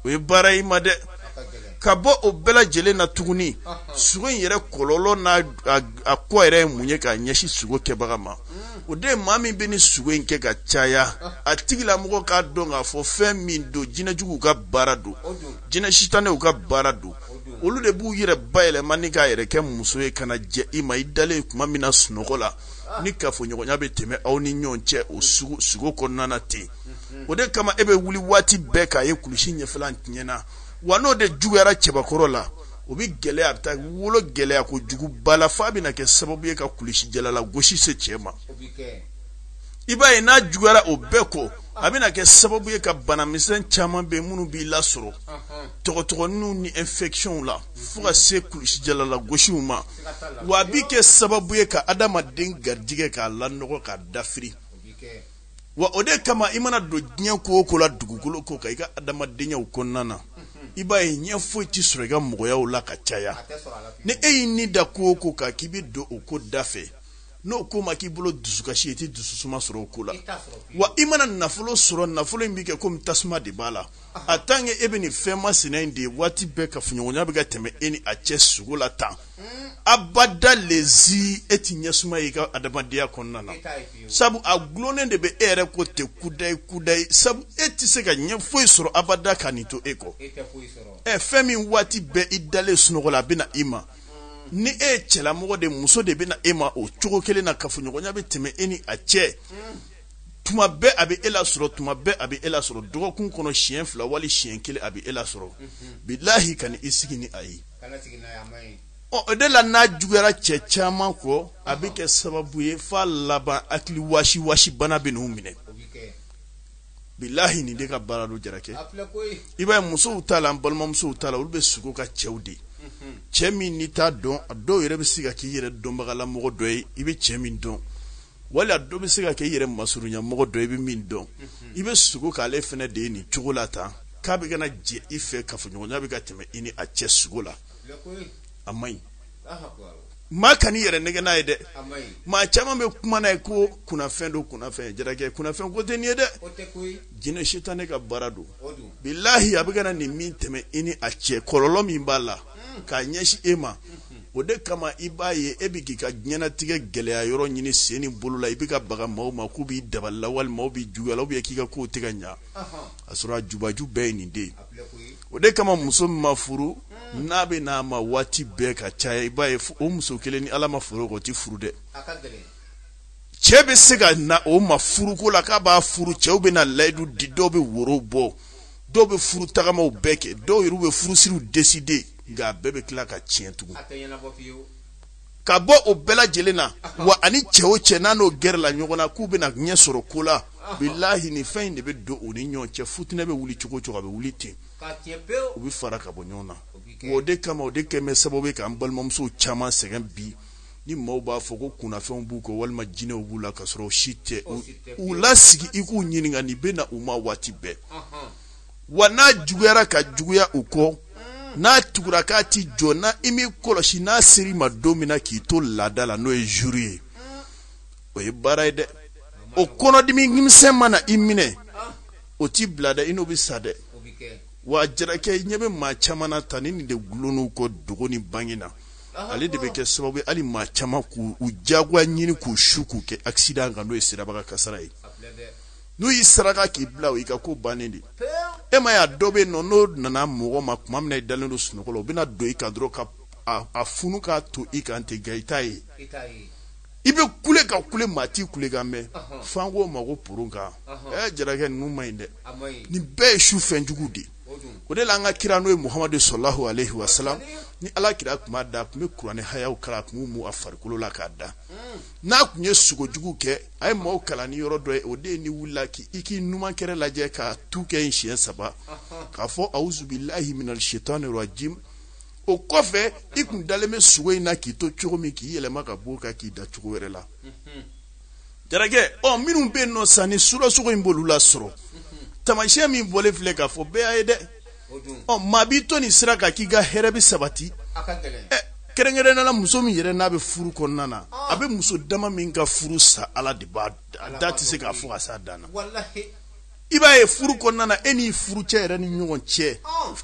o ye baara ye ma dɛ ka bɔ o bɛɛ lajɛlen na tuguni sugo in yɛrɛ kɔlɔlɔ n'a a kɔ yɛrɛ ye mun ye k'a ɲɛsin sugo kɛbaga ma o de ye maa min bɛ nin sugo in kɛ ka caya a tigilamɔgɔ k'a dɔn k'a fɔ fɛn min don jinɛjuguw ka baara don jinɛ sitanɛw ka baara don olu de b'u yɛrɛ bayɛlɛma ni k'a yɛrɛ kɛ muso ye ka na jɛ i ma i dalen kuma min na sunɔgɔ la ni kafoɲɔgɔnya bɛ tɛmɛ aw ni ɲɔgɔn cɛ o sugo kɔnɔna na ten o de kama e bɛ wuli waati bɛɛ k'a ye kulusi ɲɛfɛla tiɲɛna wa n'o de juguyara cɛbakɔrɔ la o bɛ gɛlɛya a bɛ taa wolo gɛlɛya kojuguba la f'a bɛna kɛ sababu ye ka kulusijala lagosi se cɛ ma i b'a ye n'a juguyara o bɛɛ kɔ a bɛna kɛ sababu ye ka banamisɛn caman bɛ minnu b'i lasɔrɔ tɔgɔtɔgɔninw ni infections la fo ka se kulusijala lagosiw ma wa a bɛ kɛ sababu ye ka adamaden garijigɛ k'a lanɔgɔ k'a dafiri wa o de kama i mana don diɲɛ ko o ko la dugukolo kɔ kan i ka adamadenyaw kɔnɔna na i b'a ye ɲɛ foyi tɛ sɔrɔ i ka mɔgɔyaw la ka caya ni e y'i ni da ko o ko kan k'i bɛ don o ko da fɛ n'o ko ma k'i bolo dusukasi ye i tɛ dususuma sɔrɔ o ko la wa i mana nafolo sɔrɔ nafolo in bɛ kɛ komi tasuma de b'a la a tant que e bɛ nin fɛn masina in de ye waati bɛɛ kafoɲɔgɔnya bɛ ka tɛmɛ e ni a cɛ sugo la tan abada lezi e ti ɲɛsuma y'i ka adamadenya kɔnɔna na sabu a gulonnen de bɛ e yɛrɛ kɔ ten kudayi kudayi sabu e tɛ se ka ɲɛ foyi sɔrɔ abada ka nin to e kɔ ɛ fɛn min waati bɛɛ i dalen sunɔgɔ la a bɛ na i ma ni e ye cɛlamɔgɔ de muso de bɛ na e ma o cogo kelen na kafoɲɔgɔnya bɛ tɛmɛ e ni a cɛ tuma bɛɛ a bɛ e lasɔrɔ tuma bɛɛ a bɛ e lasɔrɔ dɔgɔkun kɔnɔ siɲɛ fila wali siɲɛ kelen a bɛ e lasɔrɔ bilahi kan'i sigi ni a ye o de la n'a juguyara cɛ caman kɔ a bɛ kɛ sababu ye f'a laban hakili wasiwasi bana bɛn'u minɛ bilahi nin de ka baara don jarakɛ i b'a ye musow ta la an balimamusow ta la olu bɛ sugo ka cɛw de cɛ min n'i t'a dɔn a dɔw yɛrɛ bɛ se ka k'i yɛrɛ dɔnbagalamɔgɔ dɔ ye i bɛ cɛ min dɔn wali a dɔ bɛ se ka kɛ i yɛrɛ masurunyamɔgɔ dɔ ye i bɛ min dɔn i bɛ sugo k'ale fana de ye nin cogo la tan k'a bɛ ka na jɛ i fɛ kafoɲɔgɔnya bɛ ka tɛmɛ i ni a cɛ sugo la a man ɲi maa kan'i yɛrɛ nɛgɛn n'a ye dɛ maa caman bɛ kuma n'a ye ko kunnafɛn don kunnafɛn jarakɛ kunnafɛn ko tɛ nin ye dɛ jinɛ sitanɛ ka baara don bilahi a bɛ ka na nin min tɛmɛ i ni a cɛ kɔlɔlɔ min b'a la k'a ɲɛsin e ma o de kama i b'a ye e bɛ k'i ka diɲɛnatigɛ gɛlɛya yɔrɔ ɲini sen ni bolo la i bɛ ka baga maaw ma k'u b'i dabali la walima maaw b'i juguya la k'i ka kow tɛ ka ɲa a sɔrɔ a jubaju bɛɛ ye nin de ye o de kama muso min ma furu hmm. n'a bɛ n'a ma waati bɛɛ ka caya i b'a ye o muso kelen ni ala ma foro o tɛ furu dɛ cɛ bɛ se ka na o ma furuko la k'a b'a furu cɛw bɛ na layidu di dɔw bɛ woro bɔ dɔw bɛ furu tagamaw bɛɛ kɛ dɔw yɛrɛ bɛ furusiriw décider nka a bɛɛ bɛ tila ka tiɲɛ tugun ka bɔ o bɛɛ lajɛlen na wa a ni cɛ o cɛ n'a n'o gɛrɛla ɲɔgɔn na k'u bɛna ɲɛ sɔrɔ ko la bilahi nin fɛn in de bɛ don u ni ɲɔgɔn cɛ futinɛ bɛ wuli cogo o cogo a bɛ wuli ten u bɛ fara ka bɔ ɲɔgɔn na wa o de kama o de kɛ bɛ sababu ye k'an balimamusow caman sɛgɛn bi ni maaw b'a fɔ ko kunnafɛnw b'u kɔ walima jinɛw b'u la ka sɔrɔ o si tɛ u lasigi i k'u ɲininka nin bɛ na u ma waati bɛɛ wa n'a juguyara ka juguya u kɔ n'a tugura k'a ti jɔ n'i m'i kɔlɔsi n'a ser'i ma don min na k'i to laada la n'o ye jour ye o ye baara ye dɛ o kɔnɔdimi misɛn mana i minɛ o t'i bila dɛ i n'o bɛ sa dɛ wa jarakɛ i ɲɛ bɛ maa caman na tan ni nin de gulonn'u kɔ dogo ni bange na ale de bɛ kɛ sababu ye hali maa caman k'u jagoya ɲini k'u su k'u kɛ accident kan n'o ye sirabakan kasara ye n'u y'i saraka k'i bila o y'i ka ko bannen de e ma y'a dɔ bɛ yen nɔ n'o nana mɔgɔ ma tuma min na i dalen don sunɔgɔ la o bɛna don i kan dɔrɔn ka a funu k'a to i kan ten nka i t'a ye i bɛ kule ka kule maa t'i kulekan mɛn f'an k'o ma ko poron kan ɛ jarakɛ ninnu man ɲi dɛ nin bɛɛ ye su fɛn jugu de ye o de la an ka kira n'o ye muhamadu salalahu alayhi wa salam ni ala kira tun b'a da a tun bɛ kuranɛ hayaw kalan a tun b'u mu a farikolo la k'a da n'a tun ye sugo jugu kɛ a ye maaw kalan ni yɔrɔ dɔ ye o de ye n'i wulila k'i k'i numan kɛrɛ lajɛ ka tu kɛ yen siɲɛ saba k'a fɔ awuzubilahi minal shetani rajim o kɔfɛ i tun dalen bɛ sugo in na k'i to cogo min k'i yɛlɛma ka b'o kan k'i da cogo wɛrɛ la jarakɛ ɔ minnu bɛ yen nɔ sa ni sula sugo in b'olu lasɔrɔ taamasiyɛn min bɔlen filɛ k'a fɔ bɛɛ y'a ye dɛ ɔ maa b'i to nin sira kan k'i ka hɛrɛ bɛ sabati kɛrɛnkɛrɛnnenya la muso min yɛrɛ n'a bɛ furu kɔnɔna na a bɛ muso dama min ka furu sa ala de b'a a da tɛ se ka fɔ ka s'a dan na i b'a ye furu kɔnɔna na e n'i furucɛ yɛrɛ ni ɲɔgɔn cɛ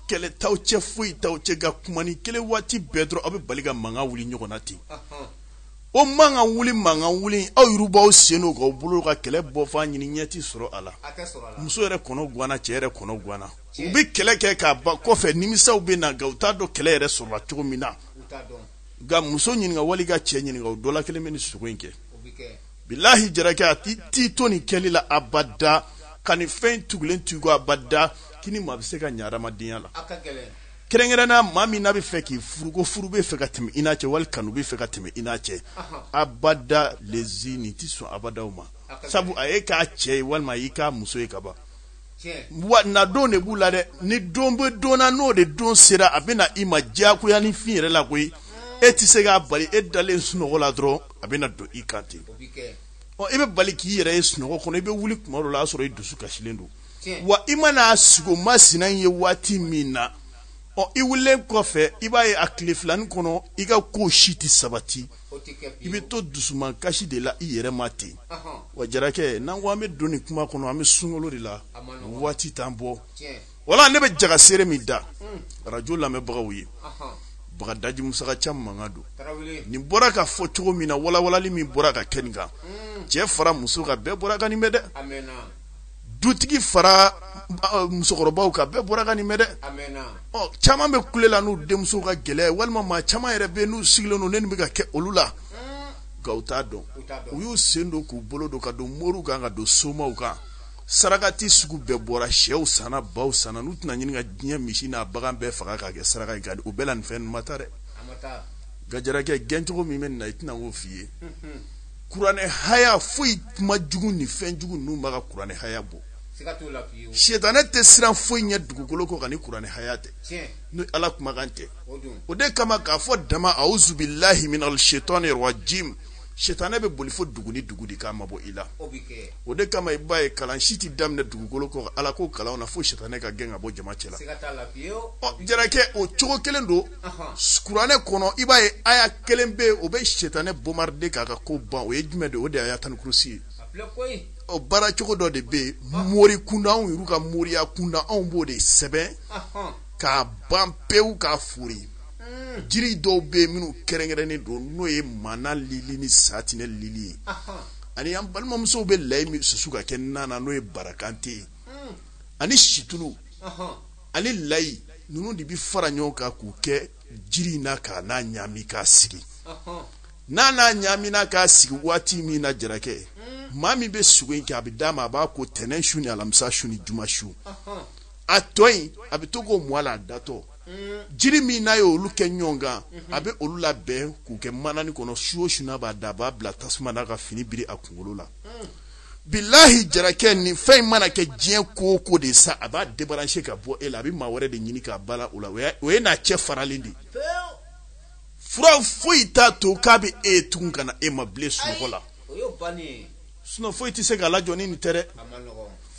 kɛlɛ t'aw cɛ foyi t'aw cɛ nka kumanin kelen waati bɛɛ dɔrɔn aw bɛ bali ka mankan wuli ɲɔgɔn na ten o mankan wuli mankan wuli aw yɛrɛ b'aw sen don k'aw bolo ka kɛlɛ bɔfan ɲini ɲɛ tɛ sɔrɔ a la muso yɛrɛ kɔnɔ gwanna cɛ yɛrɛ kɔnɔ gwanna u bɛ kɛlɛ kɛ k'a ban kɔfɛ nimisaw bɛ na nka u t'a dɔn kɛlɛ yɛrɛ sɔrɔla cogo min na nka muso ɲininka wali ka cɛ ɲininka o dɔ la kelen bɛ nin sugo in kɛ bilahi jarakɛ a t'i to nin kɛli la abada ka nin fɛn tugulen to i kɔ abada k'i ni maa bɛ se ka ɲɛ adamadenya la kɛrɛnkɛrɛnnenya maa min n'a bɛ fɛ k'i furu ko furu bɛ fɛ ka tɛmɛ i n'a cɛ wali kanu bɛ fɛ ka tɛmɛ i n'a cɛ abada lezi nin tɛ sɔn abada o ma sabu a y'i k'a cɛ ye walima a y'i k'a muso ye ka ban wa nadon de b'u la dɛ ni don bɛ don na n'o de don sera a bɛ na i ma diyagoya ni fin yɛrɛ la koyi e tɛ se k'a bali e dalen sunɔgɔ la dɔrɔn a bɛ na don i kan ten ɔ i bɛ bali k'i yɛrɛ ye sunɔgɔ kɔnɔ i bɛ wuli tuma dɔ la y'a sɔrɔ i dusu kasilen don wa i mana sugo masina in ye waati min na ɔ i wulilen kɔfɛ i b'a ye a tile filanin kɔnɔ i ka ko si tɛ sabati i bɛ to dusuman kasi de la i yɛrɛ ma ten wa jarakɛ n'an ko an bɛ don nin kuma kɔnɔ an bɛ sunkalo de la waati t'an bɔ wala ne bɛ jaga seere min da arajo lamɛnbagaw ye bagadaji musaka ca mankan don nin bɔra ka fɔ cogo min na walawalali min bɔra ka kɛ nin kan cɛ fara muso kan bɛɛ bɔra ka nin mɛn dɛ dutigi fara musokɔrɔbaw kan bɛɛ bɔra ka nin mɛn dɛ caman bɛ kule la n'u denmuso ka gɛlɛya walima maa caman yɛrɛ bɛ n'u sigilen don nin bɛ ka kɛ olu la nka u t'a dɔn u y'u sen don k'u bolo don ka don moriw kan ka don somaw kan sarakati sugu bɛɛ bɔra syɛw sanna baw sanna n'u tɛna ɲini ka diɲɛ misi n'a bagan bɛɛ faga k'a kɛ saraka nka o bɛɛ la nin fɛn ma taa dɛ nka jarakɛ gɛncogo min bɛ nin na i tɛna k'o f'i ye kuranɛ haya foyi kuma jugu ni fɛn jugu ninnu b'a ka kuranɛ haya bɔ sitanɛ tɛ siran foyi ɲɛ dugukolo kɔ kan ni kuranɛ haya tɛ ni ala kumakan tɛ o de kama k'a fɔ dama auzubilahi minal shetani rajim sitanɛ bɛ boli fo dugu ni dugu de k'a mabɔ i la o de kama i b'a ye kalan si tɛ daminɛ dugukolo kɔ kan ala ko kalanw na fo sitanɛ ka gɛn ka bɔ jama cɛ la ɔ jarakɛ o cogo kelen don kuranɛ kɔnɔ i b'a ye aya kelen bɛ yen o bɛ sitanɛ bombarder k'a ka ko ban o ye jumɛn de ye o de ye ayatal kurusi ye ɔ baara cogo dɔ de bɛ yen mori kunda anw yɛrɛ ka moriya kunda anw b'o de sɛbɛn k'a ban pewu k'a fori hmm. jiri dɔw bɛ yen minnu kɛrɛnkɛrɛnnen don n'o ye mana lili ni satinɛ lili ye ani an balimamusow bɛ layi min susu ka kɛ nan na n'o ye barakante ye hmm. ani situlu ani layi ninnu de bɛ fara ɲɔgɔn kan k'u kɛ jiri in na ka n'a ɲaami k'a sigi n'a n'a ɲaamina k'a sigi waati min na jarakɛ hmm. maa min bɛ sugo in kɛ a bɛ d'a ma a b'a ko tɛnɛn su ni alamisa su ni juma su a tɔ in a bɛ to k'o mun a la a datɔ hmm. jiri min n'a ye olu kɛ ɲɔgɔn kan hmm. a bɛ olu labɛn k'u kɛ mananin kɔnɔ su o su n'a b'a da a b'a bila tasuma na ka fini biri a kunkolo la. bilahi jarakɛ ni fɛn in mana kɛ diɲɛ ko o ko de sa a b'a débrancher ka bɔ e la a bɛ maa wɛrɛ de ɲini k'a bala o la o ye n'a cɛ faralen de ye fura foyi t'a to k'a bɛ e tugun ka na e ma bilen sunɔgɔ la sinon foyi tɛ se k'a lajɔ ni nin tɛ dɛ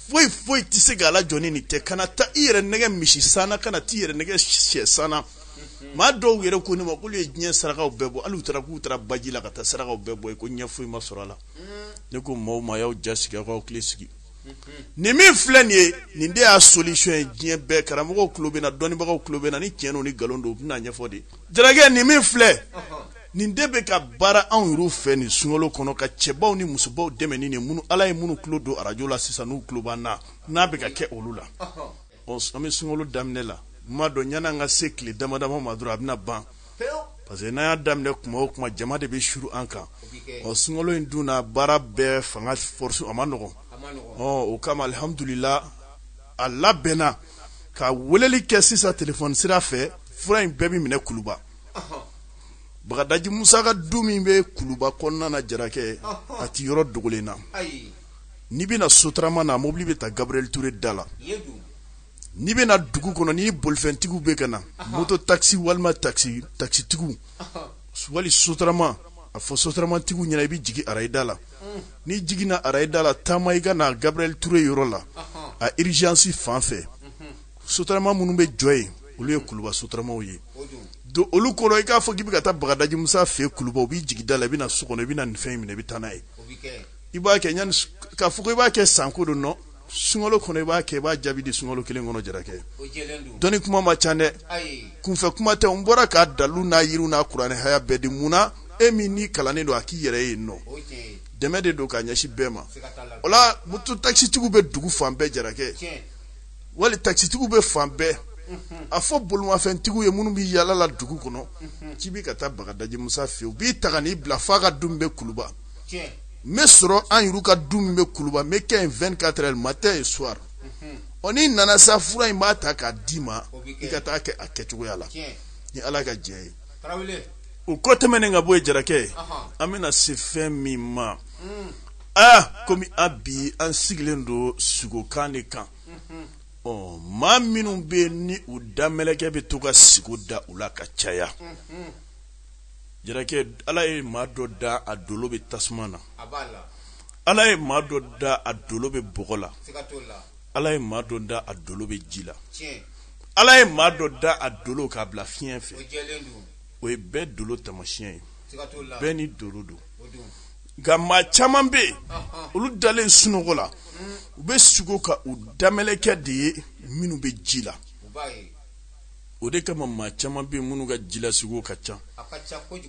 foyi foyi tɛ se k'a lajɔ ni nin tɛ kana taa i yɛrɛ nɛgɛn misi san na kana t'i yɛrɛ nɛgɛn shɛ san na maa dɔw yɛrɛ ko ne ma k'olu ye diɲɛ sarakaw bɛɛ bɔ hali u taara k'u taara baji la ka taa sarakaw bɛɛ bɔ yen ko ɲɛ foyi ma sɔrɔ a la ne ko maaw ma y'aw ja sigi aw k'aw hakili sigi nin min filɛ nin ye nin de y'a solution ye diɲɛ bɛɛ karamɔgɔw tulo bɛ n na dɔnnibagaw tulo bɛ n na ni tiɲɛ don ni nkalon don u bɛn'a ɲɛfɔ de jarakɛ nin min filɛ nin de bɛ ka baara anw yɛrɛw fɛ nin sunkalo kɔnɔ ka cɛbaw ni musobaw dɛmɛ ni nin minnu ala ye minnu tulo don arajo la sisan n'u tulo b'an na n'a bɛ ka kɛ olu la Bon an bɛ sunkalo daminɛ la n m'a dɔn yani an ka se tile damadama ma dɔrɔn a bɛna ban parce que n'an y'a daminɛ kuma o kuma jama de bɛ suuru an kan ɔ sunkalo in dun na baara bɛɛ fanga force a man nɔgɔn ɔ o kama alihamudulila a labɛnna ka weleli kɛ sisan telefɔni sira fɛ fura in bɛɛ bɛ minɛ kuluba bagadaji musa ka du min bɛ kuluba kɔnɔna na jarakɛ a tɛ yɔrɔ dogolen na n'i bɛna sotarama na mobili bɛ ta gabriel ture da la n'i bɛna dugu kɔnɔ ni bolifɛntigiw bɛ ka na moto takisi walima takisi takisitigiw wali sotarama a fɔ sotaramatigiw ɲɛna i bɛ jigin arayida la mm. n'i jiginna arayida la taama i ka na gabriel ture yɔrɔ la a urgence fan fɛ mm-hmm. sotarama minnu bɛ jɔ yen olu ye kuluba sotaramaw ye don olu kɔnɔ i k'a fɔ k'i bɛ ka taa bagadaji musa fɛ kuluba u b'i jigin da la i bɛ na so kɔnɔ i bɛ na nin fɛn in minɛ i bɛ taa n'a ye i b'a kɛ yani k'a fɔ ko i b'a kɛ sanko don nɔ sunkalo kɔnɔ i b'a kɛ i b'a jaabi di sunkalo kelen kɔnɔ jarakɛ dɔnni kuma ma ca dɛ kunfɛ kuma tɛ n bɔra k'a dalu n'a yiriw n'a kuranɛ haya bɛɛ di mun na e min n'i kalannen don a k'i yɛrɛ ye nɔ dɛmɛ de don k'a ɲɛsin bɛɛ ma o la moto takisitigiw bɛ dugu fan bɛɛ jarakɛ wali takisitigiw bɛ fan bɛɛ a fɔ bolimafɛntigiw ye minnu bɛ yalala dugu kɔnɔ k'i bɛ ka taa bagadaji musa fɛ u b'i ta ka n'i bila f'a ka du min bɛ kuluba n bɛ sɔrɔ an yɛrɛ ka du min bɛ kuluba n bɛ kɛ yen 24 heures matin et soir ɔ n'i nana sa fura in n b'a ta k'a d'i ma i ka taa kɛ a kɛcogoya la ni ala ka diɲɛ ye o ko tɛmɛnen ka bɔ yen jarakɛ an bɛna se fɛn min ma mm. aa komi a bi an sigilen don sigokan de kan mm-hmm. ɔ maa minnu bɛ yen ni u da mɛlɛkɛ bɛ to ka sigo da u la ka caya mm-hmm. Jarakɛ ala ye maa dɔ da a dolo bɛ tasuma na ala ye maa dɔ da a dolo bɛ bɔgɔ la ala ye maa dɔ da a dolo bɛ ji la ala ye maa dɔ da a dolo k'a bila fiɲɛ fɛ o ye bɛɛ dolo tamasiɲɛ ye bɛɛ n'i dolo don nka maa caman bɛ yen olu dalen sunɔgɔ la u bɛ sugo ka u da mɛlɛkɛ de ye minnu bɛ ji la o de kama maa caman bɛ minnu ka jilasugo ka ca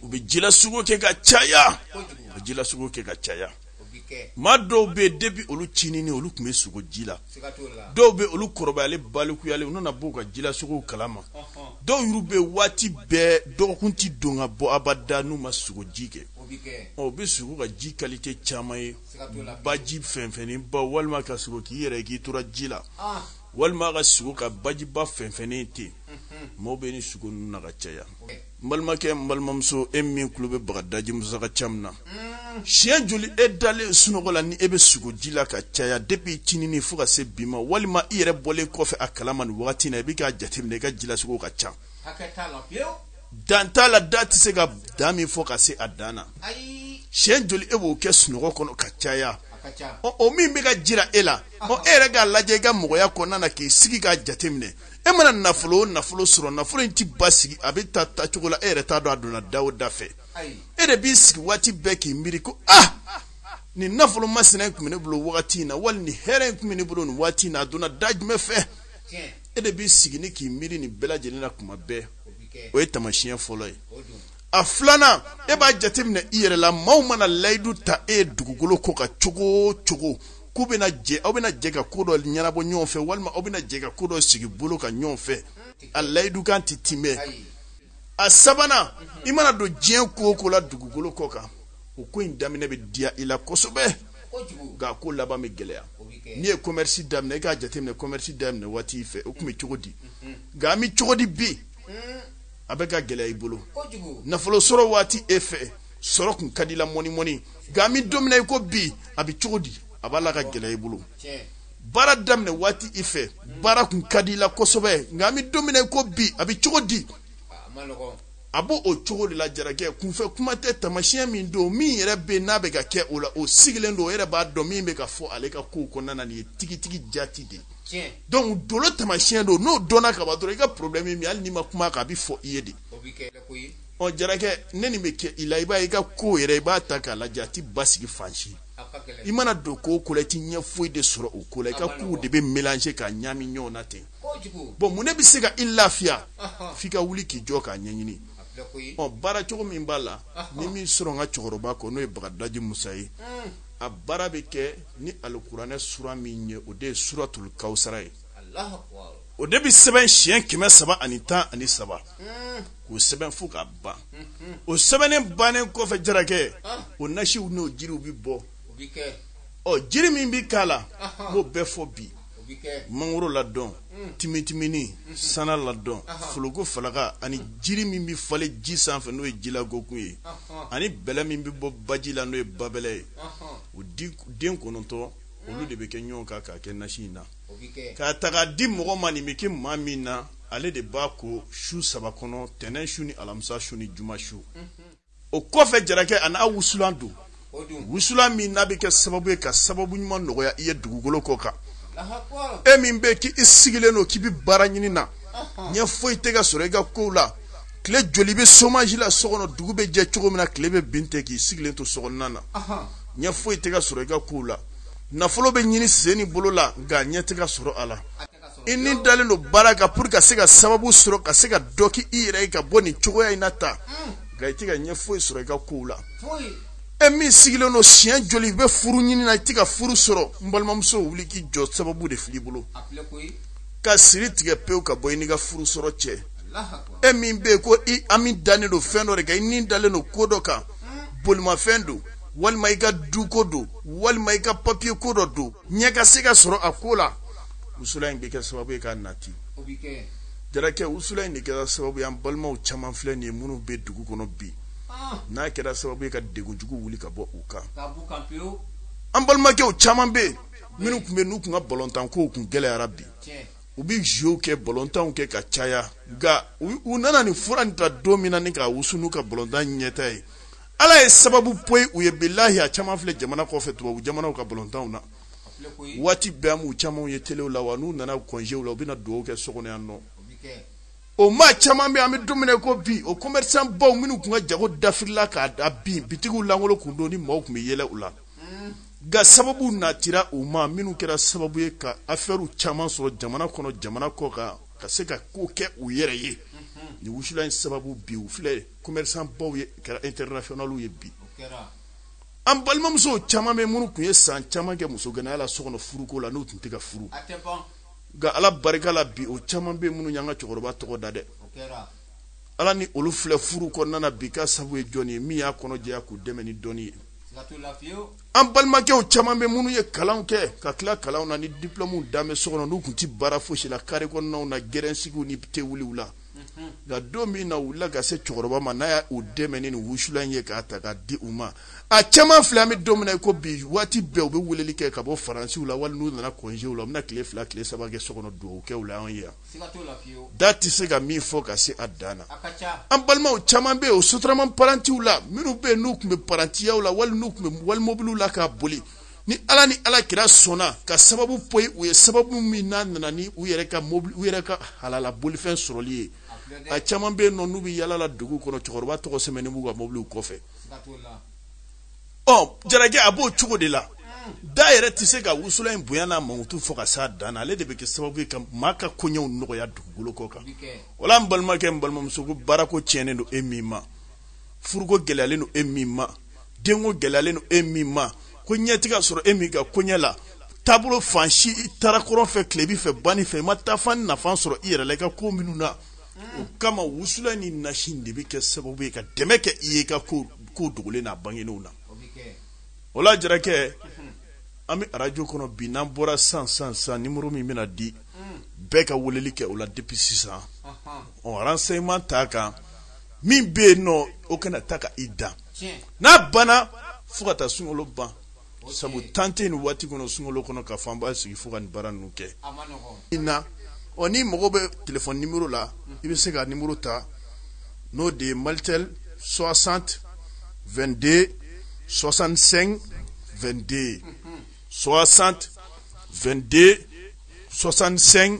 u bɛ jilasugo kɛ ka caya u jilasugo kɛ ka caya maa dɔw bɛ yen depuis olu cinin olu tun bɛ sugo ji la dɔw bɛ olu kɔrɔbayalen balikuyalen u nana b'u ka jilasugo kalama dɔw yɛrɛ bɛ waati bɛɛ dɔgɔkun tɛ don ka bɔ abada n'u ma sugo ji kɛ u bɛ sugo ka ji kalite caman ye baji fɛnfɛnnenba walima ka sugo k'i yɛrɛ k'i tora ji la walima ka sugo ka bajiba fɛnfɛnnen ten maaw bɛ nin sugo ninnu na ka caya n balimakɛ n balimamuso e min tulo bɛ bagadaji musa ka jɛmu in na siɲɛ joli e dalen sunɔgɔ la ni e bɛ sugo ji la ka caya depuis cinini fo ka se bi ma walima i yɛrɛ bɔlen kɔfɛ a kalama nin wagati in na i bɛ k'a jateminɛ i ka jilasugo ka ca dan t'a la da tɛ se ka dan min fɔ ka se a dan na siɲɛ joli e b'o kɛ sunɔgɔ kɔnɔ ka caya o min bɛ ka jira e la ɔ e yɛrɛ k'a lajɛ i ka mɔgɔya kɔnɔna na k'i sigi k'a jateminɛ e mana nafolo o nafolo sɔrɔ nafolo in tɛ basigi a bɛ taa taa cogo la e yɛrɛ t'a dɔn a donna da o da fɛ e de b'i sigi waati bɛɛ k'i miiri ko ah nin nafolo masina in tun bɛ ne bolo wagati in na wali nin hɛrɛ in tun bɛ ne bolo nin waati in na a donna da jumɛn fɛ e de b'i sigi ni k'i miiri nin bɛɛ lajɛlen na tuma bɛɛ o ye tamasiyɛn fɔlɔ ye a filanan e b'a jateminɛ i yɛrɛ la maaw mana layidu ta e ye dugukolo kɔ kan cogo o cogo k'u bɛna jɛ aw bɛna jɛ ka ko dɔ ɲɛnabɔ ɲɔgɔn fɛ walima aw bɛna jɛ ka ko dɔ sigi bolo kan ɲɔgɔn fɛ a layidukan tɛ timɛ a sabanan i mana don diɲɛ ko o ko la dugukolo kɔ kan o ko in daminɛ bɛ diya i la kosɛbɛ nka a ko laban bɛ gɛlɛya n'i ye commerce daminɛ i k'a jateminɛ commerce daminɛ waati fɛ o tun bɛ cogo di nka a bɛ cogo di bi hmm. a bɛ ka gɛlɛya i bolo nafolo sɔrɔ waati e fɛ sɔrɔ kun ka di i la mɔni mɔni nka an bɛ don min na i ko bi a bɛ cogo di a b'a la ka gɛlɛya i bolo baara daminɛ waati i fɛ baara kun ka di i la kosɛbɛ nka an bɛ don min na i ko bi a bɛ cogo di a b'o o cogo de la jarakɛ kunfɛ kuma tɛ tamasiyɛn min don min yɛrɛ bɛ n'a bɛ ka kɛ o la o sigilen don o yɛrɛ b'a dɔn min bɛ ka fɔ ale ka kow kɔnɔna na nin ye tigitigi jati de ye donc dolo tamasiyɛn don n'o dɔnna ka ban dɔrɔn i ka problème min hali n'i ma kuma a kan a bɛ fɔ i ye de ɔ jarakɛ ni nin bɛ kɛ i la i b'a ye i ka ko yɛrɛ i b'a ta k'a lajɛ a tɛ basigi fan si i mana don ko o ko la i tɛ ɲɛ foyi de sɔrɔ o ko la i ka kow de bɛ mélanger ka ɲami ɲɔgɔn na ten bon mun ne bɛ se ka i lafiya f'i ka wuli k'i jɔ k'a ɲɛɲini ɔ baara cogo min b'a la n ye min sɔrɔ n ka cɛkɔrɔba kɔ n'o ye bagadaji musa ye hmm. a baara bɛ kɛ ni alikuranɛ sura min ye o de ye suratul kawusara ye o de bɛ sɛbɛn siɲɛ kɛmɛ saba ani tan ani saba hmm. k'o sɛbɛn fo k'a ban hmm, o sɛbɛnnen bannen kɔfɛ jarakɛ ah. o nasiw n'o jiriw bɛ bɔ ɔ jiri min bɛ k'a la n b'o bɛɛ fɔ bi mangoro ladɔn mm. timitimini mm-hmm. sana ladɔn foloko falaka ani mm. jiri min bɛ falen ji sanfɛ n'o ye jilagokun ye ani bɛlɛ min bɛ bɔ baji la n'o ye babɛlɛ ye o den kɔnɔntɔn mm. olu de bɛ kɛ ɲɔgɔn kan k'a kɛ nasi in na k'a ta k'a di mɔgɔ ma nin bɛ kɛ maa min na ale de b'a ko su saba kɔnɔ tɛnɛn su ni alamisa su ni juma su mm-hmm. o kɔfɛ jarakɛ a n'a wusulan don wusulan min n'a bɛ kɛ sababu ye ka sababu ɲuman nɔgɔya i ye dugukolo kɔ kan e min bɛ k'i sigilen don k'i bɛ baara ɲini na ɲɛ foyi tɛ ka sɔrɔ i ka kow la tile joli bɛ chômage la so kɔnɔ dugu bɛ jɛ cogo min na tile bɛ bin ten k'i sigilen to so kɔnɔna na ɲɛ foyi tɛ ka sɔrɔ i ka kow la nafolo bɛ ɲini sen ni bolo la nka ɲɛ tɛ ka sɔrɔ a la i ni dalen don baara kan pour ka se ka sababu sɔrɔ ka se ka dɔ k'i yɛrɛ ye ka bɔ nin cogoya in na ta nka i tɛ ka ɲɛ foyi sɔrɔ i ka kow la e min sigilen don siɲɛ joli i bɛ furu ɲini na i tɛ ka furu sɔrɔ n balimamuso wuli k'i jɔ sababu de fil'i bolo ka siri tigɛ pewu ka bɔ i n'i ka furu sɔrɔ cɛ e min bɛ yen ko i hami dalen don fɛn dɔ de kan i ni dalen don ko dɔ kan bolimafɛn don walima i ka duko don walima i ka papiye ko dɔ don ɲɛ ka se ka sɔrɔ a ko la wusula in bɛ kɛ sababu ye k'a nati jarakɛ wusula in de kɛra sababu ye an balimaw caman filɛ nin ye minnu bɛ dugu kɔnɔ bi ah. n'a kɛra sababu ye ka degun jugu wuli ka bɔ u kan an balimakɛw caman bɛ yen minnu tun bɛ n'u tun ka balontan kow tun gɛlɛyara bi u bɛ jeux kɛ balontanw kɛ ka caya nka u nana nin fura nin ta don min na ni k'a wusu n'u ka balontan ɲɛta ye ala ye sababu poyi u ye bilahi a caman filɛ jamana kɔfɛ tubabu jamanaw ka balontanw na waati bɛɛ an b'u camanw ye telew la wa n'u nana kɔnjew la u bɛna dugawu kɛ so kɔnɔ yan nɔ o maa caman bɛ an bɛ don min na ko bi o commerçant baw minnu tun ka jago dafirila k'a da bin bitigiw lankolon kun don ni maaw tun bɛ yɛlɛ u la nka sababu natira u ma minnu kɛra sababu ye ka afɛriw caman sɔrɔ jamana kɔnɔ jamana kɔkan ka se ka ko kɛ u yɛrɛ ye nin wusula in sababu bi u filɛ commerçant baw ye kɛra internationaliw ye bi an balimamusow caman bɛ minnu tun ye san caman kɛ muso ganaya la so kɔnɔ furuko la n'u tun tɛ ka furu nka ala barika la bi o caman bɛ minnu y'an ka cɛkɔrɔba tɔgɔ da denw la ni olu filɛ furu kɔnɔna na bi k'a sababu ye jɔni ye min y'a kɔnɔ jɛya k'u dɛmɛ ni dɔnni ye an balimakɛw caman bɛ minnu ye kalanw kɛ ka tila kalanw na ni diplɔmuw dan bɛ so kɔnɔ n'u tun tɛ baara fosi la kare kɔnɔnaw na gɛrɛnsigiw ni tewuliw la nka don min na u wulila ka se cɛkɔrɔba ma n'a y'u dɛmɛ ni wusula in ye k'a ta ka di u ma a caman filɛ an bɛ don min na i ko bi waati bɛɛ u bɛ weleli kɛ ka bɔ faransiw la wali n'u nana kɔnjew la u bɛna tile fila tile saba kɛ so kɔnɔ dugawu kɛ u la anw ye yan da tɛ se ka min fɔ ka se a dan na an balimaw caman bɛ yen o sotarama parantiw la minnu bɛ yen n'u tun bɛ parantiyaw la wali n'u tun bɛ wali mobiliw la k'a boli ni ala ni ala kira sɔnna ka sababu poyi u ye sababu min n'a nana ni u yɛrɛ ka mobili u yɛrɛ ka halala bolifɛn sɔrɔli ye a caman bɛ yen nɔ n'u bɛ yaala la dugu kɔnɔ cɛkɔrɔba tɔgɔ sɛbɛnnen b'u ka mobiliw kɔfɛ ɔ jarakɛ a b'o cogo de la da yɛrɛ tɛ se ka wusulan in bonya n'a mankutu fɔ ka s'a dan na ale de bɛ kɛ sababu ye ka maa ka koɲɛw nɔgɔya dugukolo kɔ kan o la n balimakɛ n balimamuso ko baarako tiɲɛnen don e min ma furuko gɛlɛyalen don e min ma denko gɛlɛyalen don e min makoɲɛ tɛ ka sɔrɔ e min ka koɲɛ la taabolo fan si i taara kɔrɔn fɛ tilebin fɛ banni fɛ i ma taafan nafa sɔrɔ i yɛrɛ la i ka ko minnu na o kama wusulan ni nasi de bɛ kɛ sababu ye ka dɛmɛ kɛ i ye i ka ko ko dogolen n'a bangenenw na o la jarakɛ an bɛ arajo kɔnɔ bi n'an bɔra san san san nimoro min bɛna di bɛɛ ka weleli kɛ o la depuis sisan ɔ renseignement t'a kan min bɛ yen nɔ o kana ta ka i dan n'a banna fo ka taa sunkalo ban sabu temps tɛ nin waati kɔnɔ sunkalo kɔnɔ ka fanba sigi fo ka nin baara ninnu kɛ i na ɔ n'i mago bɛ telefɔni nimero la i bɛ se ka nimero ta n'o de ye malitel 60 22 65 22 60 22 65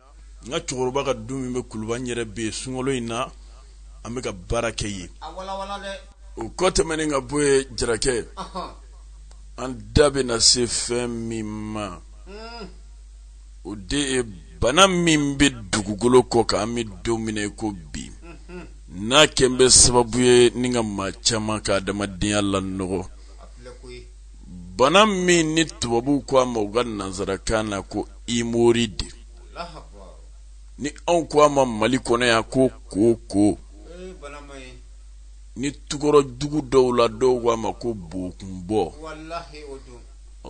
n ka cɛkɔrɔba ka du min bɛ kuluba n yɛrɛ bɛ yen sunkalo in na an bɛ ka baara kɛ yen o kɔ tɛmɛnen ka bɔ yen jarakɛ an da bɛ na se fɛn min ma hmm. o de ye bana min bɛ dugukolo kɔ kan an bɛ don min na ko bi hmm. n'a kɛn bɛ sababu ye ni ka maa caman ka adamadenya lanɔgɔ bana min ni tubabu ko a ma u ka nansarakan na ko hémorroïde ni anw ko a ma mali kɔnɔ yan ko koko ni tukɔrɔ dugu dɔw la dɔw ko a ma ko bokunbɔ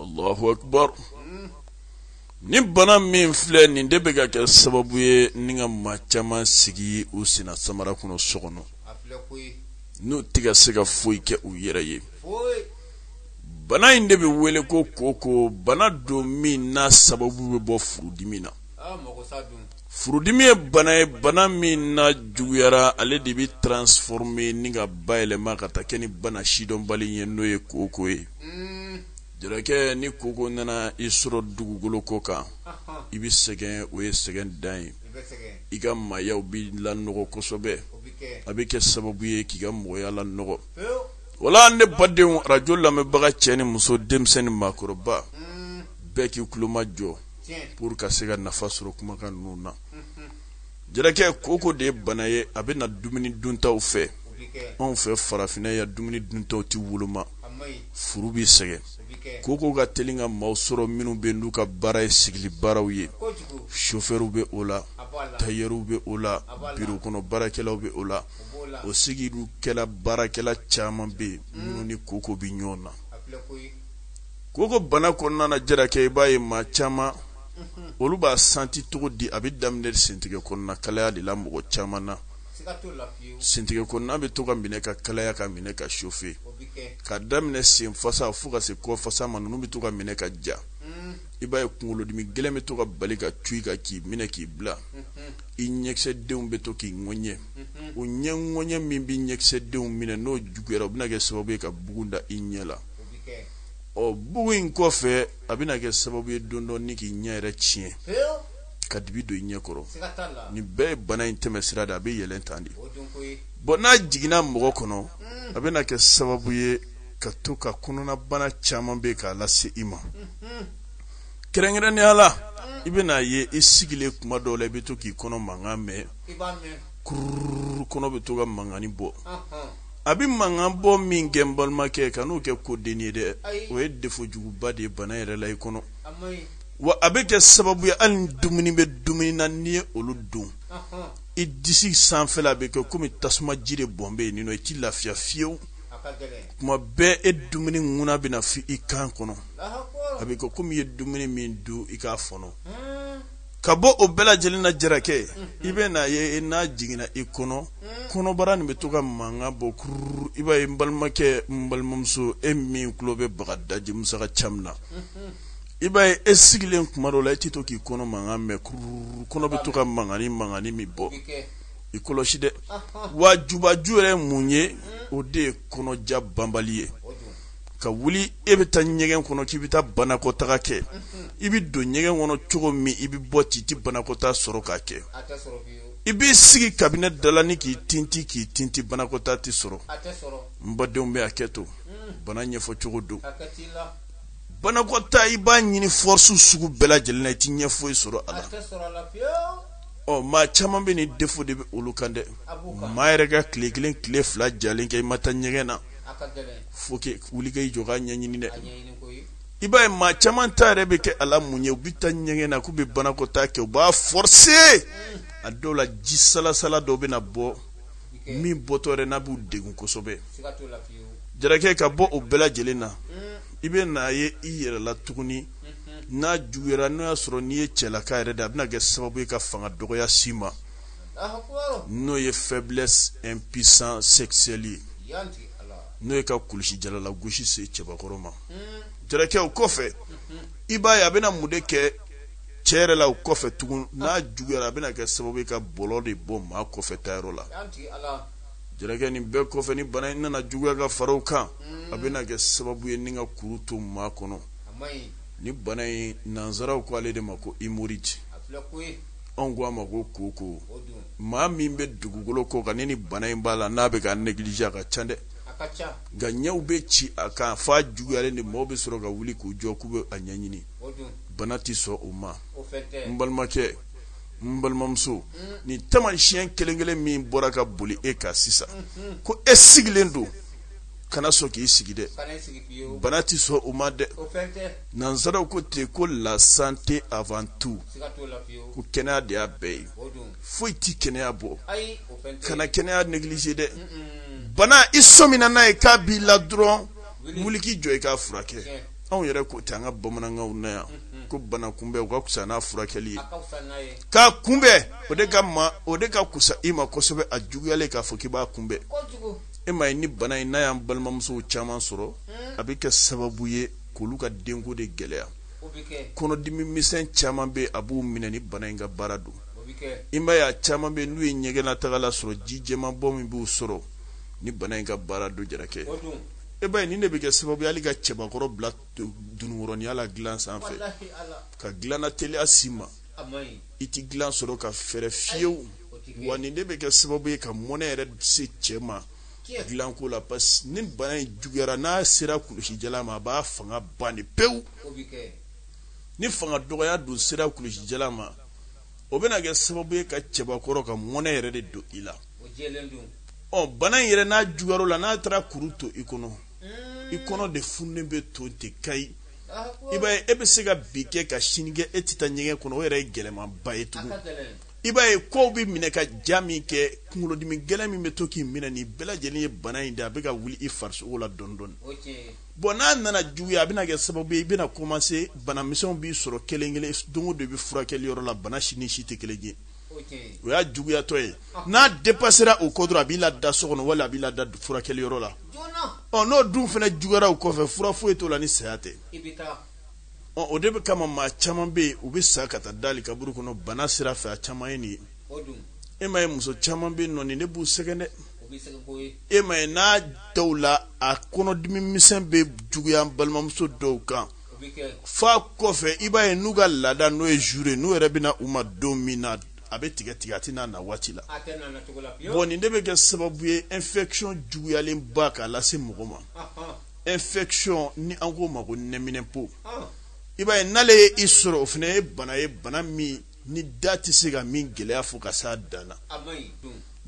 allahu akbar hmm. ni bana min filɛ nin de bɛ ka kɛ sababu ye ni ka maa caman sigi u senna samara kɔnɔ so kɔnɔ n'u tɛ ka se ka foyi kɛ u yɛrɛ ye bana in de bɛ wele ko koko bana don min n'a sababu bɛ bɔ furudimi na ah, furudimi ye bana ye bana min n'a juguyara ale de bɛ transforme ni ka bayɛlɛma ka taa kɛ ni bana sidɔnbali ye n'o ye koko ye hmm. jarakɛ ni koko nana i sɔrɔ dugukolo kɔ kan i bɛ sɛgɛn o ye sɛgɛn dan ye i ka maayaw bɛ lanɔgɔ kosɛbɛ a bɛ kɛ sababu ye k'i ka mɔgɔya lanɔgɔ wala ne badenw arajo lamɛnbaga cɛ ni muso denmisɛnnin maakɔrɔba bɛɛ k'i tulo majɔ pour ka se ka nafa sɔrɔ kumakan ninnu na jarakɛ koko de ye bana ye a bɛ na dumuni duntaw fɛ anw fɛ farafinna yan dumuni duntaw tɛ woloma furu bɛ sɛgɛn koko ka teli ka maaw sɔrɔ minnu bɛ n'u ka baara ye sigili baaraw ye sofɛriw bɛ o la tayɛriw bɛ o la biro kɔnɔ baarakɛlaw bɛ o la o sigidu kɛla baarakɛla caman bɛ yen minnu ni koko bɛ ɲɔgɔn na koko bana kɔnɔna na jarakɛ i b'a ye maa caman olu b'a santi cogo di a bɛ daminɛ sentigɛ kɔnɔna kalaya de la mɔgɔ caman na sentigɛ kɔnɔna bɛ to ka minɛ ka kalaya ka minɛ ka chauffer k'a daminɛ sen fasa fo ka se kɔ fasa ma ninnu bɛ to ka minɛ ka ja i b'a ye kunkolodimi gɛlɛn bɛ to ka bali ka cun i kan k'i minɛ k'i bila i ɲɛkisɛdenw bɛ to k'i ŋɔɲɛ o ɲɛ ŋɔɲɛ min bɛ ɲɛkisɛdenw minɛ n'o juguyara o bɛna kɛ sababu ye ka bugun da i ɲɛ la ɔ bugun in kɔfɛ a bɛna kɛ sababu ye dɔɔni dɔɔni k'i ɲɛ yɛrɛ tiɲɛ ka dibi don i ɲɛ kɔrɔ nin bɛɛ ye bana in tɛmɛsira de a bɛ yɛlɛn tan de bon n'a jiginna mɔgɔ kɔnɔ mm. a bɛna kɛ sababu ye ka to ka kɔnɔnabana caman bɛ k'a lase i ma mm-hmm. kɛrɛnkɛrɛnnenya la i bɛna ye i sigilen kuma dɔw la i bɛ to k'i kɔnɔ mankan mɛn kururu kɔnɔ bɛ to ka mankani bɔ a bɛ mankan bɔ min kɛ n balimakɛ kan'o kɛ kodennin ye dɛ o ye defo juguba de ye bana yɛrɛ la i kɔnɔ wa a bɛ kɛ sababu ye hali ni dumuni bɛ dumuni na n'i ye olu dun i disi sanfɛla bɛ kɛ komi tasuma ji de bɔn bɛ yen nin nɔ i ti lafiya fiyewu kuma bɛɛ e dumuni ŋuna bɛ na f'i kan kɔnɔ a bɛ kɛ komi i ye dumuni min dun i k'a fɔnɔ ka bɔ o bɛɛ lajɛlen na jarakɛ i bɛ n'a ye n'a jiginna i kɔnɔ kɔnɔbara nin bɛ to ka mankan bɔ kururu i b'a ye n balimakɛ n balimamuso e min tulo bɛ bagadaji musa ka caman na i b'a ye e sigilen kuma dɔ la e tɛ to k'i kɔnɔ mankan mɛn kururu kɔnɔ bɛ to ka mankan ni mankan min bɔ i kɔlɔsi dɛ w'a jubaju yɛrɛ ye mun ye o de ye kɔnɔja banbali ye ka wuli e bɛ taa ɲɛgɛn kɔnɔ k'i bɛ taa banakɔtaga kɛ i bɛ don ɲɛgɛn kɔnɔ cogo min i bɛ bɔ ten i tɛ banakɔta sɔrɔ k'a kɛ i b'i sigi kabinɛ dalanin k'i tinti k'i tinti banakɔta tɛ sɔrɔ n badenw bɛ hakɛto bana ɲɛfɔ cogo don banakɔta i b'a ɲini forcer sugu bɛɛ lajɛlen na i tɛ ɲɛ foyi sɔrɔ a la ɔ maa caman bɛ nin defo de bɛ olu kan dɛ maa yɛrɛ ka tile kelen tile fila jalen kɛ i ma taa ɲɛgɛn na faut que wuli ka i jɔ k'a ɲɛɲini dɛ i b'a ye maa caman ta yɛrɛ bɛ kɛ a la mun ye u bɛ taa ɲɛgɛn na k'u bɛ banakɔtaa kɛ u b'a forcer a dɔw la ji salasala dɔw bɛ na bɔ min bɔtɔ yɛrɛ n'a b'u degun kosɛbɛ jarakɛ ka bɔ o bɛɛ lajɛlen na i bɛ n'a ye i yɛrɛ la tuguni n'a juguyara n'o y'a sɔrɔ n'i ye cɛlaka yɛrɛ de a bɛna kɛ sababu ye ka fanga dɔgɔya s'i ma n'o ye faiblesse impuissance sexuelle ye n'o ye ka kulusijala lagosi se cɛbakɔrɔ ma jarakɛ o kɔfɛ i b'a ye a bɛna mun de kɛ cɛ yɛrɛ la o kɔfɛ tugun n'a juguyara a bɛna kɛ sababu ye ka bɔlɔ de bɔ maa kɔfɛ taayɔrɔ la jarakɛ nin bɛɛ kɔfɛ ni bana in nana juguya ka fara o kan a bɛna kɛ sababu ye ni ka kuru to maa kɔnɔ ni bana in nansaraw ko ale de ma ko hémorroïde anw ko a ma ko koko maa min bɛ dugukolo kɔ kan ni bana in b'a la n'a bɛ k'a négliger a ka ca dɛ nka ɲɛw bɛ ci a kan f'a juguyalen de maaw bɛ sɔrɔ ka wuli k'u jɔ k'u bɛ a ɲɛɲini bana tɛ sɔn o ma n balimakɛ n balimamuso nin taamasiyɛn kelen kelen min bɔra ka boli e kan sisan ko e sigilen don kana sɔn k'i sigi dɛ bana tɛ sɔn o ma dɛ nansaraw ko ten ko la santé avant tout ko kɛnɛya de y'a bɛɛ ye foyi tɛ kɛnɛya bɔ kana kɛnɛya négliger dɛ bana i sɔmina n'a ye k'a b'i la dɔrɔn wuli k'i jɔ i k'a furakɛ anw yɛrɛ ko ten an ka bamanankanw na yan ko bana kunbɛn o ka kusa n'a furakɛli ye k'a kunbɛn o de ka ma o de ka kusa i ma kosɛbɛ a juguyalen k'a fɔ k'i b'a kunbɛn e ma ye ni bana in n'a y'an balimamusow caman sɔrɔ a bɛ kɛ sababu ye k'olu ka denko de gɛlɛya kɔnɔdimi misɛn caman bɛ a b'u minɛ ni bana in ka baara don i ma ye a caman bɛ n'u ye ɲɛgɛnnataga la sɔrɔ ji jɛman bɔ min b'u sɔrɔ ni bana in ka baara don jarakɛ e b'a ye nin de bɛ kɛ sababu ye hali ka cɛbakɔrɔ bila dununkɔrɔninya la dilan sanfɛ ka dilanna teliya s'i ma i ti dilan sɔrɔ ka fɛrɛ fiyewu wa nin de bɛ kɛ sababu ye ka mɔnɛ yɛrɛ se cɛ ma dilanko la parce ni bana in juguyara n'a sera kulusijala ma a b'a fanga ban de pewu ni fanga dɔgɔya don sera kulusijala ma o bɛna kɛ sababu ye ka cɛbakɔrɔ ka mɔnɛ yɛrɛ de don i la ɔ bana in yɛrɛ n'a juguyar'o la n'a taara kuru to i kɔnɔ i kɔnɔ de fununen bɛ to ten kayi i b'a ye e bɛ se ka bi kɛ ka sini kɛ e tɛ taa ɲɛgɛn kɔnɔ o yɛrɛ ye gɛlɛmanba ye tugun i b'a ye kow bɛ minɛ ka ja min kɛ kunkolodimi gɛlɛn min bɛ to k'i minɛ nin bɛɛ lajɛlen ye bana in de a bɛ ka wuli i farisogo la dɔɔni dɔɔni bɔn n'a nana juguya a bɛna kɛ sababu ye i bɛna kɔmanse banamisɛnw b'i sɔrɔ kelen kelen don o don i bɛ furakɛli yɔrɔ la bana si ni si tɛ kelen ye o y'a juguyatɔ ye n'a depasera o kɔ dɔrɔn a b'i lada so kɔnɔ wala a b'i lada furakɛli yɔrɔ la ɔ n'o dun fana juguyara o kɔfɛ fura foyi t'o la ni saya tɛ ɔ o de kama maa caman bɛ yen u bɛ sa ka taa dali kaburu kɔnɔ bana sira fɛ a caman ye nin ye e ma ye muso caman bɛ yen nɔ nin ne b'u sɛgɛn dɛ e ma ye n'a dɔw la a kɔnɔdimi misɛn bɛ juguya balimamuso dɔw kan f'a kɔfɛ i b'a ye n'u ka laada n'o ye jour ye n'o yɛrɛ bɛ na u ma don min na a bɛ tigɛ tigɛ a tɛ n'a na waati la bon nin de bɛ kɛ sababu ye infection juguyalen ba k'a lase mɔgɔ ma infection ni an k'o ma ko nɛminɛpo i b'a ye n'ale ye i sɔrɔ o fana ye bana ye bana min ni da tɛ se ka min gɛlɛya fɔ ka s'a dan na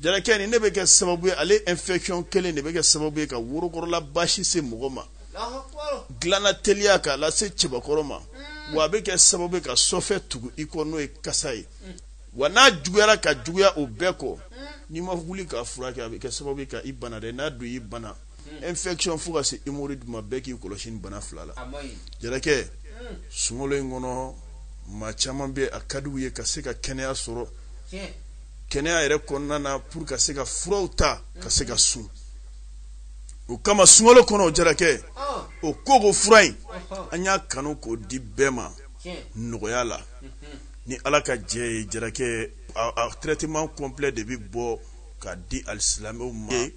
jarakɛ nin ne bɛ kɛ sababu ye ale infection kelen de bɛ kɛ sababu ye ka worokɔrɔla baasi se mɔgɔ ma dilanna teliya k'a lase cɛbakɔrɔ ma mm. wa a bɛ kɛ sababu ye ka sɔfɛ tugu i kɔ n'o ye kasa ye mm. wa n'a juguyara ka juguya o bɛɛ kɔ mm. n'i ma wuli k'a furakɛ a bɛ kɛ sababu ye ka i bana dɛ n'a dun y'i bana hmm. infection fo ka se hémorroïde ma bɛɛ k'i kɔlɔsi nin bana fila la jarakɛ hmm. sunkalo in kɔnɔ maa caman bɛ a ka di u ye ka se ka kɛnɛya sɔrɔ kɛnɛya yɛrɛ kɔnɔna na pour ka se ka furaw ta ka se ka sun o kama sunkalo kɔnɔ o jarakɛ ah. o kooko fura in an y'a kanu k'o di bɛɛ ma nɔgɔya la ni ala ka jɛn ye jarakɛ a traitement complet de bɛ bɔ ka di alisilamɛw ma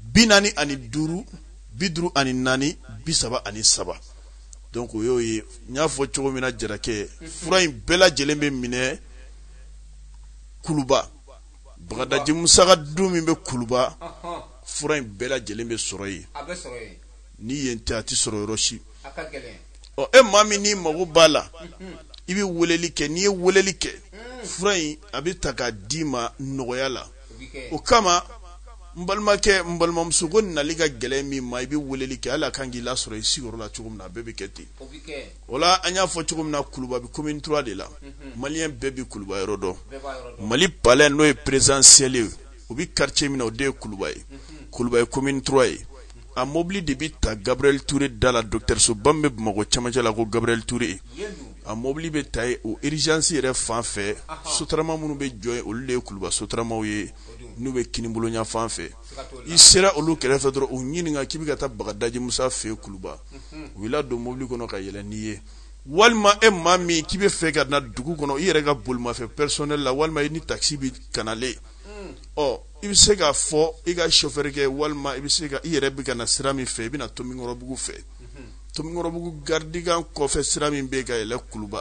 bi naani ani duuru bi duuru ani naani bi saba ani saba donc o y'o ye n y'a fɔ cogo min na jarakɛ fura in bɛɛ lajɛlen bɛ minɛ kuluba bagadaji musa ka du min bɛ kuluba fura in bɛɛ lajɛlen bɛ sɔrɔ yen ni yen tɛ a tɛ sɔrɔ yɔrɔ si ɔ e maa min n'i mago b'a la i bɛ weleli kɛ n'i ye weleli kɛ fura in a bɛ ta k'a d'i ma nɔgɔya la o kama n balimakɛ n balimamuso ko nali ka gɛlɛn min ma i bɛ weleli kɛ a ka kan k'i lasɔrɔ i sigiyɔrɔ la cogo min na a bɛɛ bɛ kɛ ten o la an y'a fɔ cogo min na kuluba bɛ commune trois de la mhm. malien bɛɛ bɛ kuluba yɔrɔ dɔn mali palais n'o ye présidentiel ye o bɛ quartier min na o de ye kuluba ye mhm. kuluba ye commune trois ye a mobili de bɛ ta gabriel ture da la dɔgɔtɔrɔsoba min bɛ bamakɔ cɛmancɛ la ko gabriel ture a mobili bɛ ta yen o urgence yɛrɛ fan fɛ sotarama minnu bɛ jɔ yen olu de ye kuluba sotaramaw ye n'u bɛ kinibolo ɲanfan fɛ i sera olu kɛrɛfɛ dɔrɔn u ɲininka k'i bɛ ka taa bagadaji musa fɛ yen kuluba u b'i ladon mobili kɔnɔ ka yɛlɛ n'i ye walima e maa min k'i bɛ fɛ ka na dugu kɔnɔ i yɛrɛ ka bolimafɛn personnel la walima i ni taxi bɛ ka na le ɔ i bɛ se k'a fɔ i ka sofɛrikɛ walima i bɛ se ka i yɛrɛ bɛ ka na sira min fɛ i bɛ na tomikɔrɔbugu fɛ tomikɔrɔbugu garidikan kɔfɛ sira min bɛ ka yɛlɛ kuluba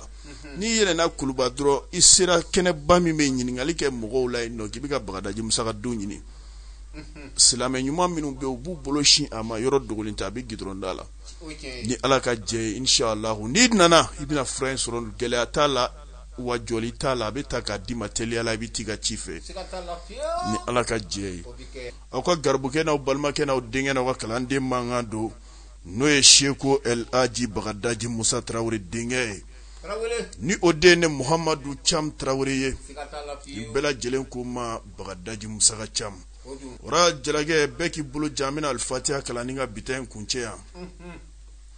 n'i yɛlɛna kuluba dɔrɔn i sera kɛnɛba min bɛ ɲininkali kɛ mɔgɔw la yen nɔ k'i bɛ ka bagadaji musa ka du ɲini silamɛ ɲuman minnu bɛ u b'u bolo sin a ma yɔrɔ dogolen tɛ a bɛ gidɔrɔn da la ni ala ka jɛn ye inshallah n'i nana i bɛna fura in sɔrɔ gɛlɛya t'a la wa jɔli t'a la a bɛ ta k'a d'i ma teliya la i bɛ t'i ka ci fɛ ni ala ka jɛn ye aw ka garibukɛ n'aw balimakɛ n'aw denkɛ n'aw ka kalanden mankan don n'o ye seko el aji bagadaji musa tarawele denkɛ ye ni o de ne muhamadu cam tarawele ye ni bɛɛ lajɛlen ko n ma bagadaji musa ka cam ora jalakɛ bɛɛ k'i bolo jan an bɛna alifatiya kalan ni ka bi ta in kuncɛ yan